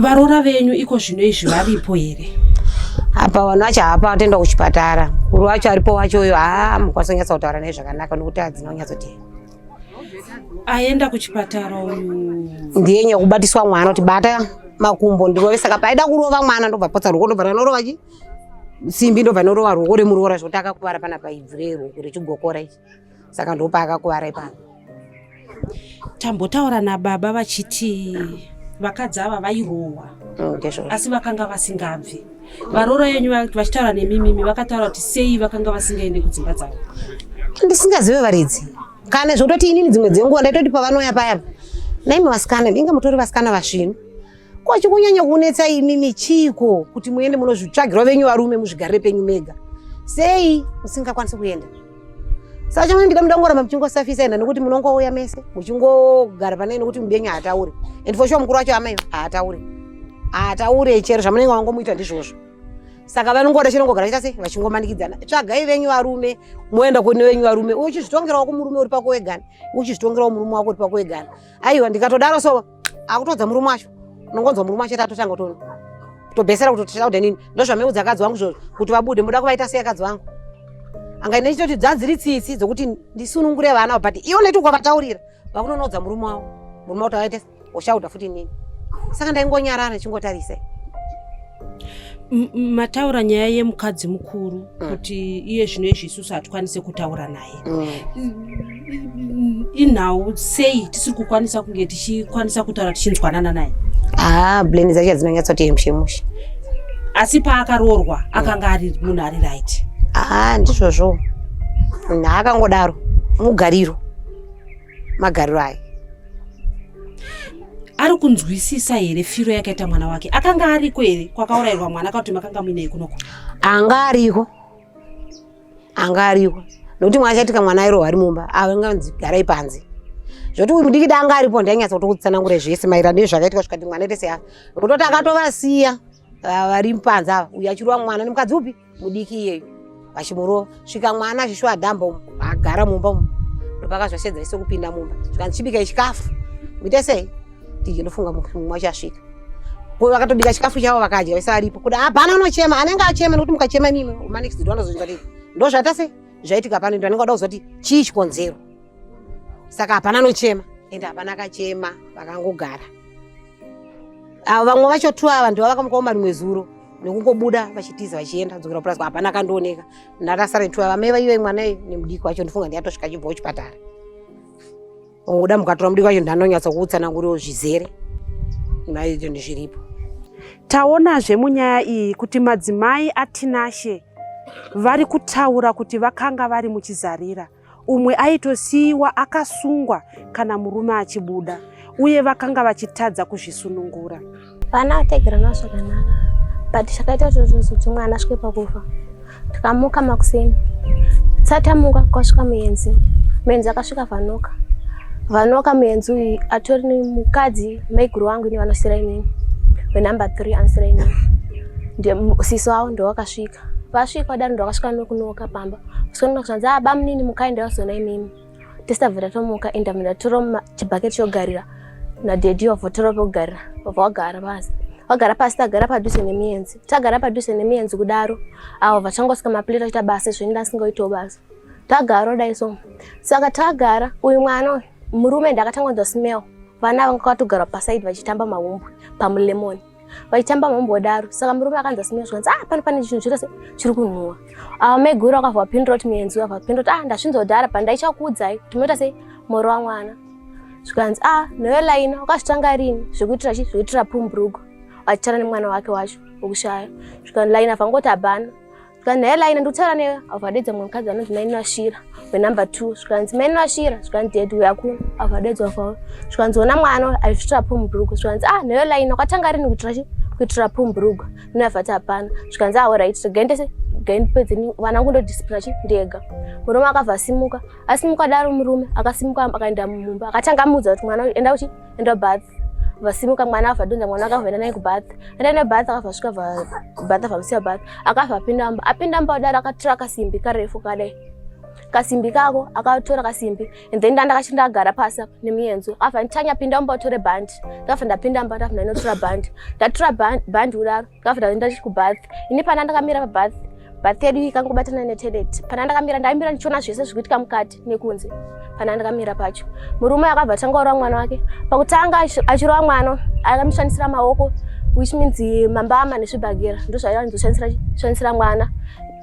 varoora venyu iko zvino izvi varipo here apa vanhu vacho hapa vatenda kuchipatara kuri wacho aripo wacho uyo haa mukwanisa kunyatsa kutaura naye zvakanaka nokuti hadzina kunyatsotea aenda kuchipatara uyu ndiye nyaya kubatiswa mwana kuti bata makumbo ndirove saka paida kurova mwana ndobva potsa ruoko ndobva ranorova chi simbi ndobva norova ruoko remuroora zvokuti akakuvara pana paibvu reruoko rechigokora ichi saka ndopaakakuvara ipano tambotaura nababa vachiti vakadzi ava vairohwa mm, asi vakanga vasingabvi varoora yenyu vachitaura nemimimi vakataura kuti sei vakanga vasingaende kudzimba dzavo ndisingazive varidzi kana zvokutoti inini dzimwe dzenguva ndaitoti pavanouya payapa naimi vasikana inga mutori vasikana vasvinu ko chikunyanya kunetsa imimi chiiko kuti muende munozvitsvagirwa venyu varume muzvigarire penyu mega sei musingakwanisi kuenda Sacha mwana ndida mudangoramba muchingosafisa enda nekuti munongouya mese muchingogara panai nekuti mudenyu haataure and for sure mukuru wacho amai haataure haataure chero zvamunenge wangomuita ndizvozvo saka vanongoda chinongogara chita sei vachingomanikidzana tsvagai venyu varume moenda kune venyu varume uchizvitongerawo kumurume uri pako wegani uchizvitongerawo murume wako uri pako wegani aiwa ndikatodaro so akutodza murume wacho unongonzwa murume wacho tatotanga kutona tobhesera kuti tichauda nini ndozvameudza akadzi wangu zvozvo kuti vabude muda kuvaita sei akadzi wangu anga ine chitoti dzadziri tsitsi dzokuti ndisunungure vana but iwo neti ukavataurira vakunonoudza murume wavo murume wavo tavaite uchauda futi nini saka ndaingonyarara ndichingotarisai mataura nyaya yemukadzi mukuru mm. kuti iye zvino izvi isusu hatikwanise kutaura naye mm. inhau sei tisiri kukwanisa kunge tichikwanisa kutaura tichinzwanana naye haa ah, bleni dzacho dzinonyatsoti mushe mushe asi paakaroorwa akanga ari munhu ari right haa ah, ndizvozvo naakangodaro mugariro magariro ayo ari kunzwisisa here firo yakaita mwana wake akanga ariko here kwakaurayirwa mwana akakuti makanga muinei kunoko anga ariko anga aripo nokuti mwana chaitika mwana airohwa ari mumba ava nganzi garai panze zvoti uyu mudiki danga aripo ndainyatsa kuti kutsanangure zvese maererano nezvakaitika svika kuti mwana itese ava kutoti akatovasiya vari panze ava uyu achirowa mwana nemukadzi upi mudiki iyeyu vachimurova svika mwana achishuwa adhamba umu agara mumba umu ndopakazvashedza ise kupinda mumba svika ndichibika chikafu muite sei Ndiki ndofunga mumwe mumwe achasvika. Ko vakatobika chikafu chavo vakadya vese aripo. Kuda hapana unochema, anenge achema nekuti mukachema imimi ma next door anozonzwa kuti ndozvaita sei? Zvaitika pano ndo anenge oda kuzoti chii chikonzero. Saka hapana anochema ende hapana akachema vakangogara. Avo vamwe vacho tu ava ndivo vakamuka uma rimwe zuro nekungobuda vachitiza vachienda kudzokera kupurazi kwa hapana akandooneka. Ndakasara tu ava mai vaive mwana nemudiki wacho ndifunga ndiye atosvika achibva kuchipatara. Unguda mukatora mudiki wacho ndanonyatsa kuutsananguriro zvizere naizvo ndizviripo. Taonazve munyaya iyi kuti madzimai aTinashe vari kutaura kuti vakanga vari muchizarira umwe aitosiyiwa akasungwa kana murume achibuda uye vakanga vachitadza kuzvisunungura. vana vategerana zvakanaka but chakaita zvozvozoti mwana asvike pakufa tikamuka makuseni satamuka kwasvika muenzi muenzi akasvika vanoka vanoka muenzi uyu atori nemukadzi maiguru wangu ini vanosira inini venumber three anosira inini siso avo ndovakasvika vasvika wadaro ndovakasvika nokunoka pamba sikunoka zvanzi abamunini ah, mukai ndavazona imimi tisabva tatomuka enda mira toro chibhaketi chogarira nadhedhi wavo toro pokugarira wabva wagara pasi wagara pasi tagara padhuze nemiyenzi tagara padhuze nemiyenzi kudaro avo vachangosvika mapleta aita basa zvinda asingaitawo basa tagaro dai so saka tagara uyu mwana uyu murume ndakatanga kunzwa smell vana vanga kwatogara pasaidi vachitamba mahumbwe pamulemoni vaitamba mhombodaro saka murume akanzi asimira zvikanzi ah pano pane chinhu chirose chiri kunhuwa ava ah, maiguru akabva vapindura kuti muenzi uyo vapindura kuti ah ndasvinzodhara pa ndaichakuudzai kuti munoita sei moro wamwana zvikanzi ah newe laina wakazvitanga rini zvekuitira chi zvekuitira pumbrugo vachitana nemwana wake wacho wekushaya zvikanzi laina vangoti abhana zvikanzi hela ine ndikutaura newe abva adedza mumwe mukadzi anonzi maino ashira wenumber two zvikanzi maino ashira zvikanzi ded uya kuno abva adedzwa kwavo zvikanzi ona mwana aizvitira pumubhurugwa zvikanzi ah newe laini kwatanga rini kuitira chi kuitira pumubhurugwa mine avati hapana zvikanzi ah orit regaindese gaindipedzeni vana kungo ndodisipura chi ndega murume akabva asimuka asimuka daro murume akasimuka akaenda mumumba akatanga amuudza kuti mwana enda uchi enda bath vasimuka mwana ava donza mwana akava enda naye kubath enda naye bath akava svika bath avamusiya bath akava apinda mba apinda mba kudaro akatora kasimbi karefu kadai kasimbi kako akatora kasimbi and then ndandakachi ndagara pasi apa nemuyenzo ava nditanya pinda mba utore bhandi ndava ndapinda mba ndava ndainotora bhandi ndatora bhandi kudaro After that ndachi ku bath. Ini pana ndakamira pa bath. Bath yedu ikangobatana ne toilet. Pana ndakamira ndaimira ndichiona zvese zvikuitika mukati nekunze. Pana ndakamira pacho. Murume akabva tanga ora mwana wake. Pakutanga achirova mwana akamishandisira maoko which means mambama nezvibhagera ndozvaiva ndizoshandisira mwana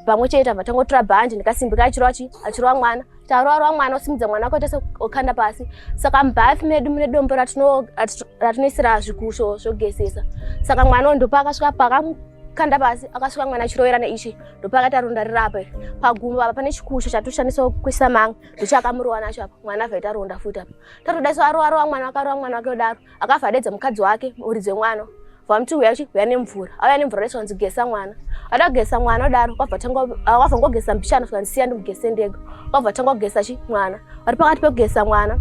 pamwe chete abva tangotora bhandi ndikasimba kachiro achirova mwana taroarwa mwana usimudza mwana wako tese ukanda pasi saka mubath medu mune dombo ratinoisira zvikusho zvogesesa saka mwana uyu ndopa akasvika pakamukanda pasi akasvika mwana achirovera neichi ndopa akaita ronda rirapo iri pagumbo apa pane chikusho chatoshandisa kuisa manga ndochakamurowa nacho apa mwana avhaita ronda futi apa tatoda so aroarwa mwana wakarowa mwana wake odaro akabva adedza mukadzi wake muridzi wemwana vamti uya chi uya nemvura auya nemvura rese wanzi gesa mwana ada kugesa mwana wadaro kwabva tanga ah, wabva ngogesa mbichana saka ndisiya ndimugese ndega kwabva tanga kugesa chi mwana vari pakati pekugesa mwana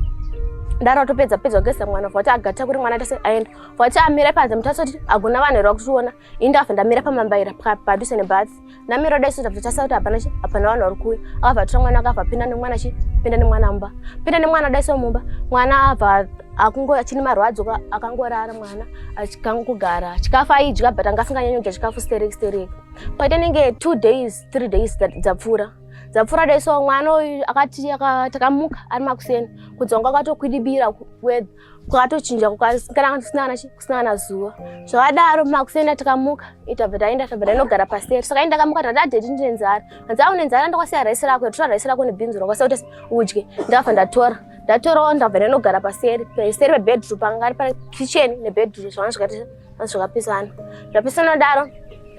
daro atopedza pedza kugesa mwana vati agata kuri mwana tese aenda vati amire panze mutasoti agona vanhu here vakutiona ini ndakabva ndamira pamambaira padhuze nebath ndamira dai sota kutotarisa kuti hapana hapana vanhu vari kuuya akabva atora mwana akabva pinda nemwana chi pinda nemwana mumba pinda nemwana dai so mumba mwana abva akungo achini marwadzo akangorara mwana achikango kugara chikafu aidya but anga asinganyanyodya chikafu sterek sterek paita nenge two days three days dzapfuura that, dzapfuura dai so mwana uyu akati takamuka ari makuseni kudza wanga akatokwidibira kuwedha kwakatochinja kana kusina kana zuva zvakadaro makusenda tikamuka itabva taenda tabva tainogara paseri saka ini ndakamuka tati adheti ndine nzara hanzi au nenzara ndakwasiya raisi rako yatora raisi rako nebhinzi rakwasiya kuti udye ndakabva ndatora ndatorawo ndabva ndainogara paseri paseri pebedroom pangari pa kitchen nebedroom zvanga zvakapisana zvapisana daro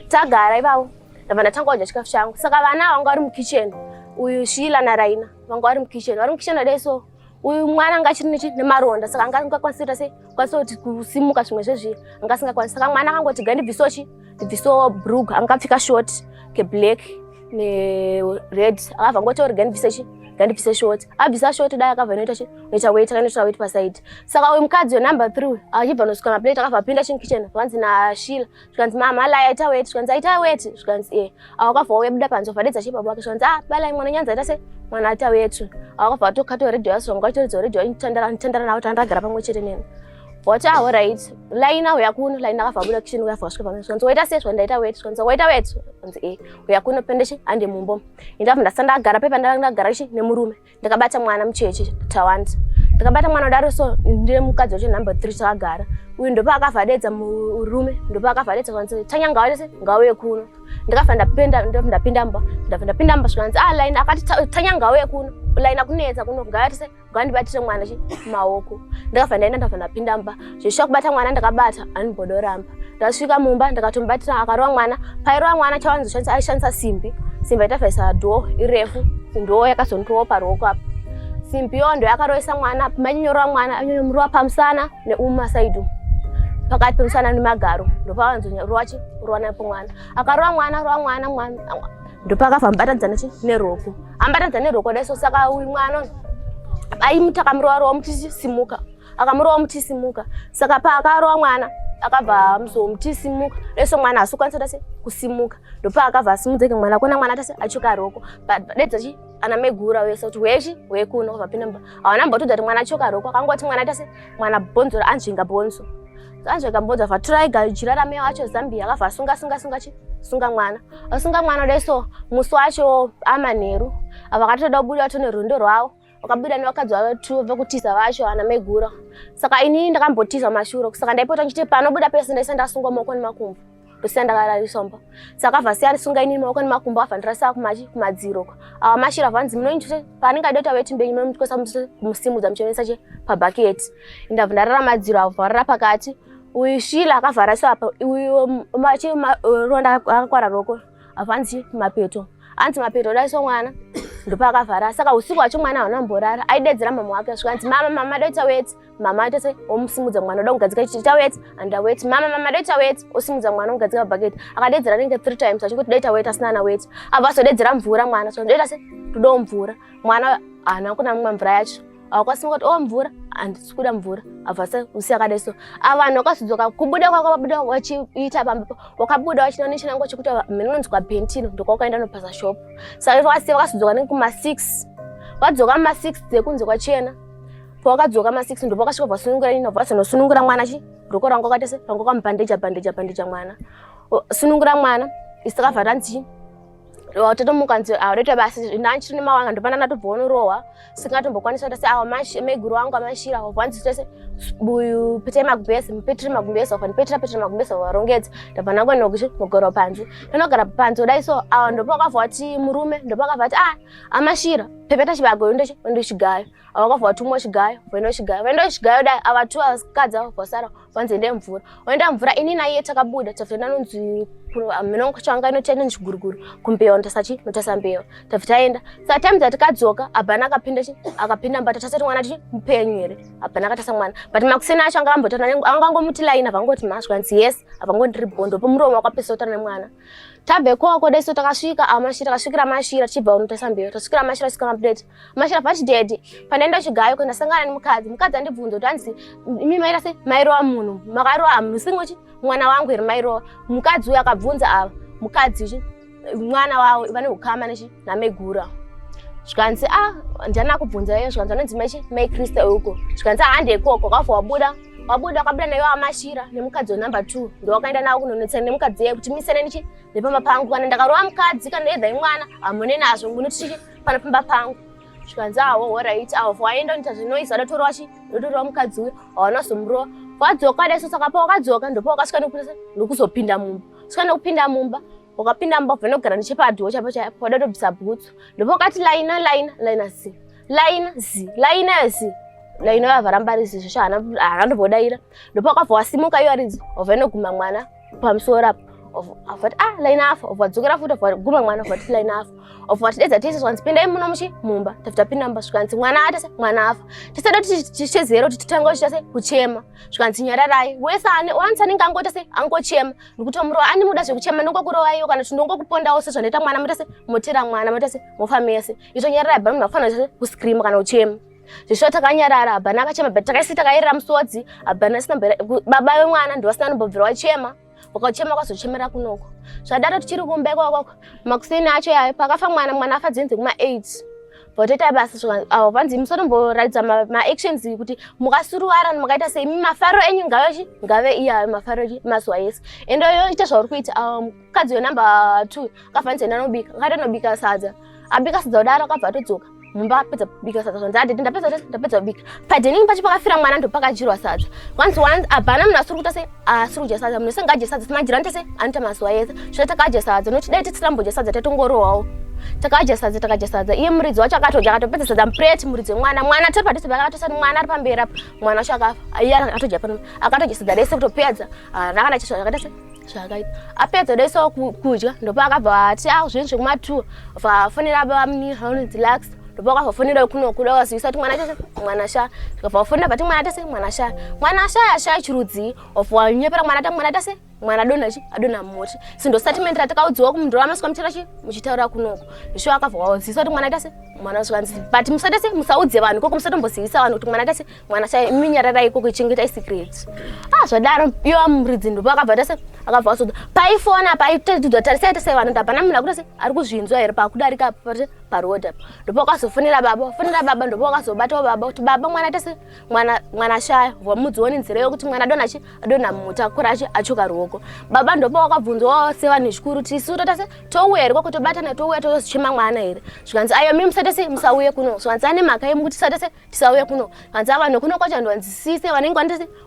tagara ivavo ndabva ndatanga kudya chikafu changu saka vana vanga vari mukitchen uyu shila naraina vanga vari mukitchen vari mukitchen vadai so uyu mwana anga achiri nechi nemaronda saka anga asingakwanisi kuita sei kwanisa kuti kusimuka zvimwe zvezviye anga asingakwanisi saka mwana akangoti gai ndibvisewo chi ndibvisewo brug angapfika short keblack nered akabva ngoti ori gai ndibvise chi gai ndibvise short abvisa short dai akabva inoita chi noita wet akainoita wet paside saka uyu mukadzi wenumber three achibva nosvika maplate akabva apinda chinkitchen vanzi nashila zvikanzi mama alai aita weti zvikanzi aita weti zvikanzi e awakabva wabuda panze vhadedza che baba wake zvikanzi a ah, balai mwana nyanza aita se mwana aita weti awakabva watokata redio yasonga wachitoridza redio inotandara notandara navo tandagara pamwe chete neni voti aho ah, right lai naho yakuno lai ndakabva abuda kicheni uyabva wasvika pamwe zvikanzi waita se zvikanzi ndaita weti zvikanzi waita weti zvikanzi e uyakuno pendechi ande mumbo indabva ndasandagara pepa ndagara chi nemurume ndakabata mwana mucheche tawanda ndakabata mwana udaro so ndine mukadzi wacho number three chakagara uyu ndopaakabva adedza murume ndopaakabva adedza kwanzi tanya ngawaese ngauye kuno ndakabva ndapinda ndakabva ndapinda mba ndakabva ndapinda mba zvikanzi ah line akati tanya ngauye kuno line akunetsa kuno ngawaese ngandibatire mwana chi maoko ndakabva ndaenda ndakabva ndapinda mba zveshuwa kubata mwana ndakabata anibhoda oramba ndasvika mumba ndakatomubatira akarova mwana pairova mwana chawanizoshandisa aishandisa simbi simbi aitavhaisa dhoo irefu ndoo yakazondirowa paruoko apa simbi yoo ndo yakaroisa mwana mainyorova mwana anyorova pamusana neumasaidi umu pakati pemusana nemagaro ndopavanzonyarowa chi rowa napo mwana akarowa mwana rowa mwana mwana ndopakabva mubatanidzana chi neroko ambatanidzana neroko daiso saka uyu mwana aimutakamurowa rowa muchisimuka akamurova mutisimuka saka paakarova mwana akabva amuzowo mutisimuka leso mwana asi ukwanisa tase kusimuka ndopaakabva asimudzeke mwana kona mwana tase achoka roko padedza chi ana megura wese kuti wechi wekuno kwabva pina mba hawana mba kutodza kuti mwana achoka roko akangoti mwana tase mwana bhonzo anzvinga bhonzo anzvinga bhonzo abva tura iga jira rameo acho zambia akabva asunga sunga sunga chi sunga mwana asunga mwana leso musi wacho amanheru ava akatoda kubuda tone rwendo rwavo vakabuda nevakadzi vavo two vekutiza vacho ana megura saka ini ndakambotiza mashuro saka ndaipota ndichiti panobuda pese ndaisa ndasungwa maoko nemakumbo ndosina ndakarariswa mba saka vha siya risunga inini maoko nemakumbo vabva ndirasa kumachi kumadziro ko awa mashira vanzi munoindichute paanenge aida kuti ave timbei munomutyisa musimudza muchionesa che pabhaketi ndabva ndarara madziro avo vharara pakati uyu shila akavharasa apa uyu machi ronda akakwara roko apa hanzi kumapeto hanzi mapeto daiso mwana ndopaakavhara saka usiku wacho mwana hauna mborara aidedzera mama wake asvika hanzi mama mama doita weti mama aita se omusimudza mwana oda kugadzika ichi ita weti anda weti mama mama doita weti osimudza mwana ogadzika mabhaketi akadedzera nenge three times achingoti doita weti asina ana weti abva azodedzera mvura mwana so ndoita se todawo mvura mwana haana kuna mumwe mvura yacho awakasimuka kuti o oh, mvura handisi kuda mvura avasa usi akadai so a vanhu wakazodzoka kubuda kwako wabuda wachiita pamba wakabuda wachina nechinango chekuti mhene unonzwa bentino ndokwaukaenda nopasa shop saka vakasiya vakazodzoka nekuma six wadzoka ma six dzekunze kwachena pawakadzoka ma six ndipo wakasvika vasunungura ino vazonosunungura mwana chi roko rangu akatese rangu kwamubhandeja bhandeja bhandeja mwana sunungura mwana isakavhatanzi chii watotomuka nzi audaita basi nanchiri nemawanga ndopanana tobvonorohwa singatombokwanisa kuti awa maiguru wangu amashira wanzi tese buyu pete magumbezi mupetire magumbezi wafa ndipetira petire magumbezi warongedza ndabva nangu nokuti mugoro panzi panogara panzi kudai so awa ndopakabva kuti murume ndopakabva kuti ah amashira pepeta chibagoyo ndochigayo awakabva kuti umwe chigayo vaino chigayo vaino chigayo dai ava two asikadzi ava vasara kwanzi ende mvura oenda mvura ini naiye takabuda tafenda nonzi minongo changa inoti ende nechiguruguru kumbewa ndosachi notasa mbewa tafita aenda saa time dzatikadzoka abhana akapinda chi akapinda mbata tasati mwana tichi mupenyu here abhana akatasa mwana but makuseni acho anga ambotana anga angomuti laina avangoti mazwa nzi yes avangondiri bondo pomuromo wakapesa utana nemwana tabve koko deso takasvika amashira takasvikira mashira tichibva unotesa mberi tasvikira mashira tasvika maplate mashira pati dedi pandaenda chigayo ko ndasangana nemukadzi mukadzi andibvunza kuti hanzi imi maita se mairowa munhu makarowa amunhu usingochi mwana wangu here mairowa mukadzi uyo akabvunza ava mukadzi uchi mwana wavo vane ukama nechi namegura zvikanzi a ah, ndana kubvunza iyo zvikanzi anonzi maichi mai krista uko zvikanzi ahande ah, ikoko kwabva wabuda wabuda wakabuda nayo amashira nemukadzi wenumber two ndowakaenda nawo kunonetsana nemukadzi iye kuti misene nichi nepamba pangu kana ndakarova mukadzi kana yedha imwana hamune nazvo nguni tichi pana pamba pangu zvikanzi awo ah, horit awo for aenda unoita zvinoizi adatorowa chi ndotorova mukadzi uyo hawana zomurova wadzoka daiso saka pawakadzoka ndopawakasvika nokuzopinda mumba svika nokupinda mumba wakapinda mubhavha inogara nechepadhiwo chaipo chaipo wada tobvisa bhutsu ndipo wakati laina laina laina si laina zi laina zi laina yavaramba rizi zvesvo haana ndombodaira ndipo wakabva wasimuka iyo aridzi wabva inoguma mwana pamusoro apo vati ah line afa of vadzokera futi of guma mwana of vati line afa of vati dedza tese zvanzi pindai muno muchi mumba tafuta pin number zvikanzi mwana atese mwana afa tese do tichezero kuti titanga kuchita se kuchema zvikanzi nyararai wese ane wanzi anenge angoita se angochema ndikutomurova andimuda zvekuchema ndongokurova iyo kana kuti ndongokupondawo sezvanoita mwana moita se motera mwana moita se mofa mese itonyarara abba munhu akufanira zvese kuscreama kana uchema zveshuwa takanyarara abana akachema but takaisi takairira musodzi abana sina baba vemwana ndovasina anombobvira wachema ukachema kwazochemera kunoko zvadaro tichiri kumba ikwakoko makuseni acho yayo pakafa mwana mwana afa dzinzi kuma eight votoita basa zvakanga avo vanzi musatomboratidza maactions ma kuti mukasuruwara makaita sei mafaro enyu ngave ngave iye ayo mafaro enyu mazuva yese ende yoita zvauri kuita ah, mukadzi wenumber two akafanisa enda anobika akati anobika sadza abika sadza kudaro akabva atodzoka mumba apedza kubika sadza zvanzi adede ndapedza ndapedza kubika padening pacho pakafira mwana ndopakajirwa sadza once once abhana munhu asuri kuita sei asi ah, kudya sadza munhu wese ngaadye sadza timajirani tese anoita mazuva ese zvino takadya sadza nokuti dai tisirambodya sadza taitongorohwawo takadya sadza takadya sadza iye muridzi wacho akatodya akatopedza sadza mupreti muridzi wemwana mwana tiri padhuze pake akatosati mwana ari pamberi apo mwana wacho akafa iye akatodya pano akatodya sadza rese kutopedza ah, rakana chizvo zvakaita se zvakaita apedza rese kudya ndopa akabva ati a ah, zvinhu zvekumatuwa vafonera babamunini haunonzi lax ndipo akazofonera kuno kuda wazivisa kuti mwana chese mwana sha zvikabva wafonera pati mwana tese mwana sha mwana sha yasha chirudzi of wanyepera mwana ta mwana tese mwana adona chi adona moti sindo statement ratakaudziwa kumunhu ramasika mutera chi muchitaura kunoko zvisho akabva wazivisa kuti mwana tese mwana zvikanzi but musatese musaudze vanhu koko musatombozivisa vanhu kuti mwana tese mwana sha iminyarara ikoko ichengeta isecret ah zvadaro iyo amuridzi ndipo akabva tese akabva wasoda paifona paitadzidzwa tarisai tese vanhu ndapana munhu akutese ari kuzvinzwa here pakudarika pati paroad apa ndopakazofonera baba wafonera baba ndopakazobatawo baba kuti baba mwana tese mwana mwana shaya vamudzioni nzira yokuti mwana adona chi adona mutakura achi achoka ruoko baba ndopa wakabvunzwawo sevanhu zvikuru tisu totase touya here kwakutobatana touya tozochema mwana here zvikanzi ayo mi musatese musauye kuno zvikanzi ane mhaka yemu kuti satese tisauye kuno hanzi avanhu kuno kwacho vanhu vanzi sise vanenge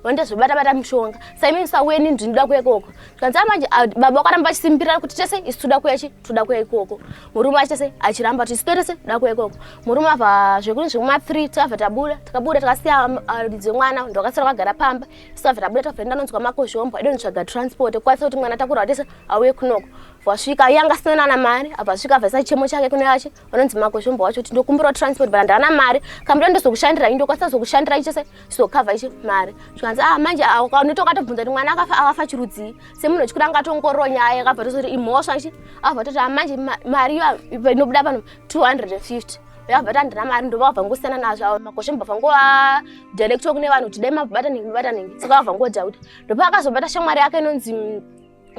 vanoita zvobata bata mushonga saimi musauye nini ndinoda kuya ikoko zvanzi amanje ah, baba wakaramba achisimbirira kuti tese isu toda kuya chi toda kuya ikoko murume achi tese achiramba kuti isu tese toda kuya ikoko murume ava zvekuri zvekuma three takabva tabuda takabuda takasiya lidzi ah, wemwana ndo akasara kagara pamba isu takabva tabuda takabva ndanonzwa makozhombo aidonitsvaga transport kukwanisa kuti mwana takurwa tese auye kunoko vasvika yanga asina nana mari abva asvika abva isa chemo chake kune yache vanonzi makozvombo wacho kuti ndokumbirawo transport but handana mari kambuya ndozokushandira i ndokwanisa zokushandira ichese sizokavha ichi mari zvikanzi a ah, manje ah, unoita ukatobvunza kuti mwana akafa akafa chirudzii semunhu wechikuda angatongororo nyaya yakabva tozoti imhosva ichi akabva toti a ah, manje mari iyo inobuda pano 250 vakabva ta handina mari ndova vabva ngosiyana nazvo avo makozvombo bva ngova directwa kune vanhu kuti dai mabatanibataniso vakabva ngoda kuti ndopa akazobata shamwari yake inonzi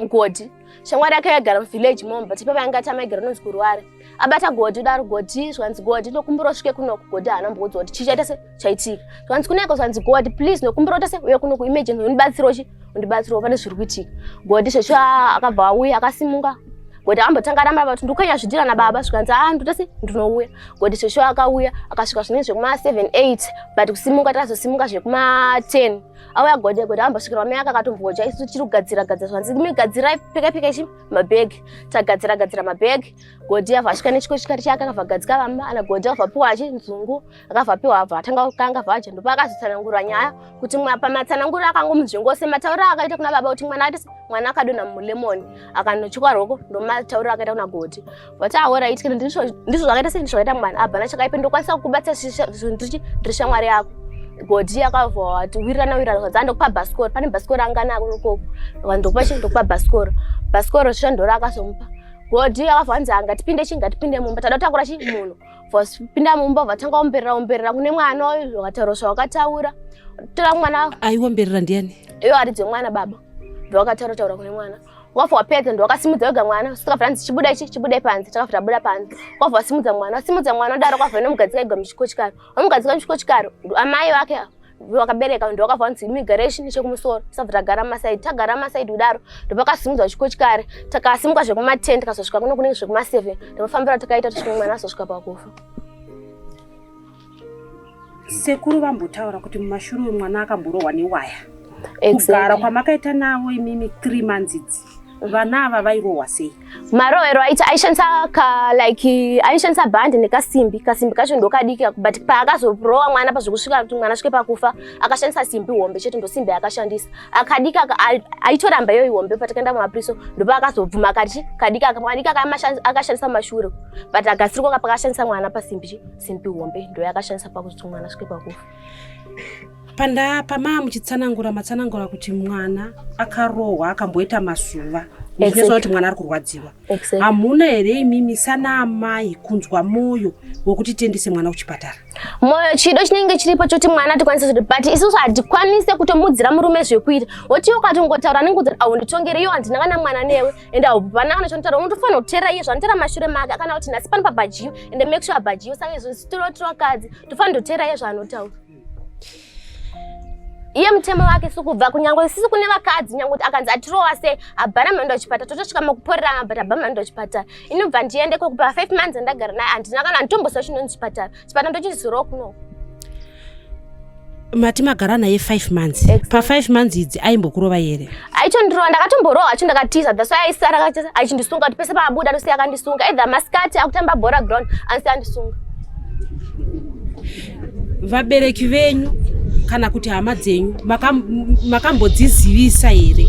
Godi. Shamwari yake yaigara muvillage mom but ipapa yanga tamaigara nonzi kurware. Abata Godi udaro Godi zvanzi Godi ndokumbura usvike kunoku Godi haana mbudzi kuti chii chaita se chaitika. Zvanzi kuneko zvanzi Godi please ndokumbura uta se uye kunoku emergency undibatsiro chi undibatsiro pane zviri kuitika. Godi zvesho akabva auya akasimuka Godi ambotanga ramba kuti ndukanya zvidira na baba zvikanzi ah nduta se ndinouya. Godi zvesho akauya akasvika zvinenge zvekuma 7 8 but kusimuka tazosimuka zvekuma 10. auya gode gode ambosvikirwa mai akakatomboja isu tichiri kugadzira gadzira zvanzi imi gadzirai peka peka ichi mabag tagadzira gadzira mabag gode avha asvika nechiko chikati chake akavha gadzika vamba ana gode avha piwa achi nzungu akavha piwa avha atanga kanga vaja ndopa akazotsanangura nyaya kuti mwa pamatsanangura akangomunzvingo se mataura akaita kuna baba kuti mwana ati mwana akadona mu lemon akanochikwa roko ndomataura akaita kuna gode vati ahoraiti kana ndizvo zvakaita sei ndizvo zvakaita mwana abva nachakaipe ndokwanisa kukubatsa zvinhu ndiri shamwari yako godi akabva wati wirirana wirirana zvanzi andokupa bhasikoro pane bhasikoro anganako ikoko ndokupa chi ndokupa bhasikoro bhasikoro zvisha ndoro akazomupa godi akabva wanzi anga tipinde chi ngatipinde mumba tada kutakura chi munhu vapinda mumba vatanga omberera omberera kune mwana uyu zvakataura zvawakataura tora mwana aiomberera ndiani iyo aridze mwana baba ndowakataura taura kune mwana wabva wapedza ndo wakasimudza wega mwana sikabva anzi chibuda ichi chibude panze chakabva tabuda panze wabva wasimudza mwana wasimudza mwana odaro kwabva nomugadzika igwa muchikochikaro wamugadzika muchikochikaro amai vake ava wakabereka ndo wakabva wanzi immigration nechekumusoro tisabva tagara masaidi tagara masaidi kudaro ndopakasimudzwa chikochikare takasimuka zvekumaten tikazosvika kuno kunenge zvekumaseven ndopafambira takaita tichinge mwana azosvika pakufa Sekuru vambotaura kuti mumashure mwana akamborohwa newaya. Exactly. Kugara kwamakaita navo imimi 3 months idzi. Vana ava vairohwa sei? Marohero aita aishandisa ka like aishandisa band nekasimbi. Kasimbi kacho ndokadiki but paakazoprowa mwana pazvekusvika kuti mwana svike pakufa akashandisa simbi hombe chete ndosimbi yakashandisa. Akadika aitoramba yoyi hombe patakaenda mumapriso ndopa akazobvuma akati kadika akadika akashandisa mashure but agasirwa pakashandisa mwana pasimbi. simbi hombe ndoyakashandisa pakuti mwana svike pakufa panda pamaa muchitsanangura matsanangura kuti mwana akarohwa akamboita mazuva muchizwa kuti mwana ari kurwadziwa hamuna here imimi sana amai kunzwa mwoyo wekuti tiendese mwana kuchipatara mwoyo chido chinenge chiripo choti mwana tikwanise zviri but isusu hatikwanise kutomudzira murume zvekuita woti ukatongotaura anenge kuti aunditongere iyo handina kana mwana newe ende haupana kana chinotaura unotofanira kuteera iye zvanoteera mashure make akana kuti nhasi pano pabhajiyo ende make sure abhajiyo saka izvo sitorotiro akadzi tofanira kuteera iye zvaanotaura iye mutemo wake sikubva kunyange sisi kune vakadzi nyange kuti akanzi atirowa se abhana maenda kuchipatara totosvika makuporerana but abha maenda kuchipatara inobva ndiende kokupa five months andagara naye handina kana nditombosva chinonzi chipatara chipatara ndochizorowa kunoko mati magara naye five months exactly. pafive months idzi aimbokurova here aichondirova ndakatomborohwa acho ndakatiza that's why aisara achindisunga kuti pese paabuda anosiya akandisunga either masikati akutamba bhora ground anosiya andisunga vabereki venyu kana kuti hama dzenyu makambodzizivisa here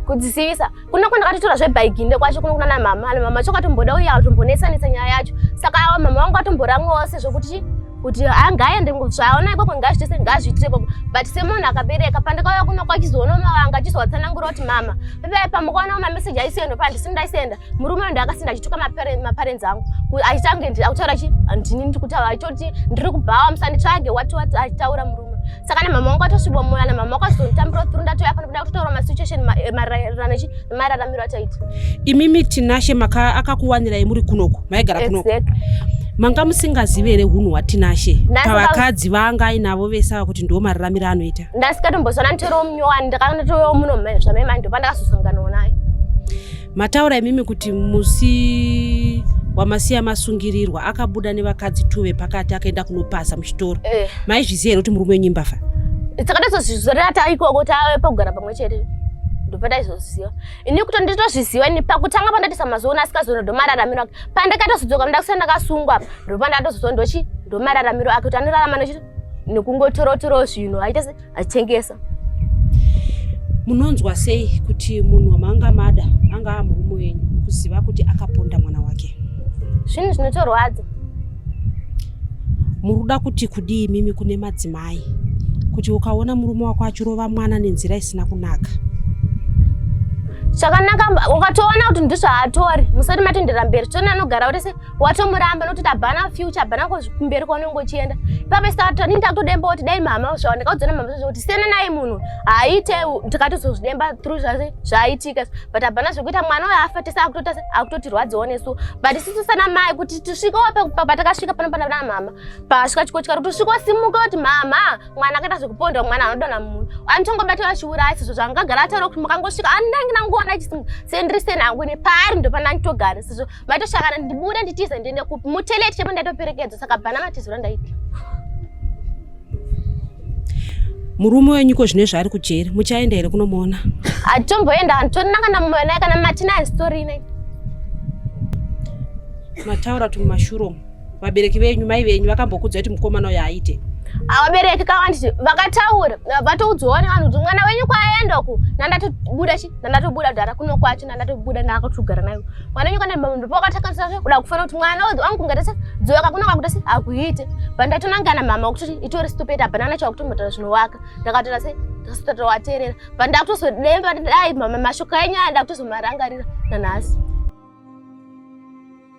kudzisivisa kuno kwenda katotora zvebaiginde kwacho kuno kunana mama ana mama chokatomboda uye atombonetsa netsa nyaya yacho saka awa mama vangu atomboramwawo sezvo kuti kuti angaende zvaona ikoko ngazvitese ngazviitire ikoko but semunhu akabereka pandakauya kuno kwachizoona mama vanga achizovatsanangura kuti mama pepai pamukaona mameseji aisiyendo pa ndisini ndaisenda murume uyo ndakasenda achituka maparenzi angu achitange akutaura chi ndini ndiri kutaura achitoti ndiri kubhawa musanditsvage wati wati achitaura murume saka namama wangu atosvibwa moyo ana mama wakazotambira through ndatouya pano kuda kutotaura masituation eh, maererano chi nemararamiro ataita imimi tinashe maka akakuwanirai muri kunoko maigara kunoko exactly. manga musingazive here hunhu hwatinashe pavakadzi vanga ainavo vese ava kuti ndiwo mararamiro anoita ndasikatomboziva nanitoriwo munyowani ndakatoyowo muno mai zvamai mai ndopandakazosanganawo naye Mataura imimi kuti musi wamasiya masungirirwa akabuda nevakadzi two vepakati akaenda kunopasa muchitoro eh. maizviziva here kuti murume wenyu imbafa takatozozvizorera taikoko tave pakugara pamwe chete ndopataizozviziva ini kuti nditozviziva ini pakutanga pandatisa mazoona asikazoona ndomararamiro ake pandakatozodzoka ndakusa ndakasungwa apa ndopandatozozo ndochi ndomararamiro ake kuti anorarama nochi nekungotorotoroo zvinhu aita achitengesa munonzwa sei kuti munhu wamanga mada anga amurume wenyu kuziva kuti akaponda mwana wake zvinhu zvinotorwadza muruda kuti kudii mimi kune madzimai kuti ukaona murume wako achirova mwana nenzira isina kunaka zvakanaka ukatoona kuti ndizvaatori musati matendera mberi tione anogara kuti se watomuramba nokuti tabhana future bhana kumberi kwaunenge uchienda ipapo sata nini takutodemba kuti dai mama zvava ndikaudzana mama zvazvo kuti siyana naye munhu haaite tikatozozvidemba through zvazve zvaaitika but abhana zvekuita mwana uyo afa tese akutota akutotirwadziwo nesu but isisu sana mai kuti tisvikewo patakasvika pano pana vana mama pasvika chiko chikati kuti usvikewo simuka kuti mama mwana akaita zvekupondwa mwana anodona munhu anotongobata vachiuraya sezvo zvangagara ataura kuti mukangosvika andangi nangoona chisimu sendiri senangu nepaari ndopana nditogara sezvo Vatoshakana ndibude nditize ndiende kupi? Muteleti chemo ndatoperekedza saka bana matizura ndaita. Murume wenyu ko zvine zvaari kujeri muchaenda here kunomuona? Atomboenda antonina kana mumwe naye kana matina story ine. Mataura tumashuro. vabereki venyu mai venyu vakambokudzwa kuti mukomana uyo aite vabereki kawanditi vakataura vatoudzwawo nevanhu kuti mwana wenyu kwaenda uku nandatobuda chi nandatobuda kudhara kuno kwacho nandatobuda ndaakatogara nayo mwana wenyu kanapakatakanisa kuda kufanira kuti mwana uyu wangu kungatese dzoka kuno kwakutese akuite pandatonangana mama wakuti itori stupid hapana nacho kutombotaura zvinowaka ndakatoona se ndakatotovateerera pandakutozodemba dai mashoko enyu aya ndakutozomarangarira nanhasi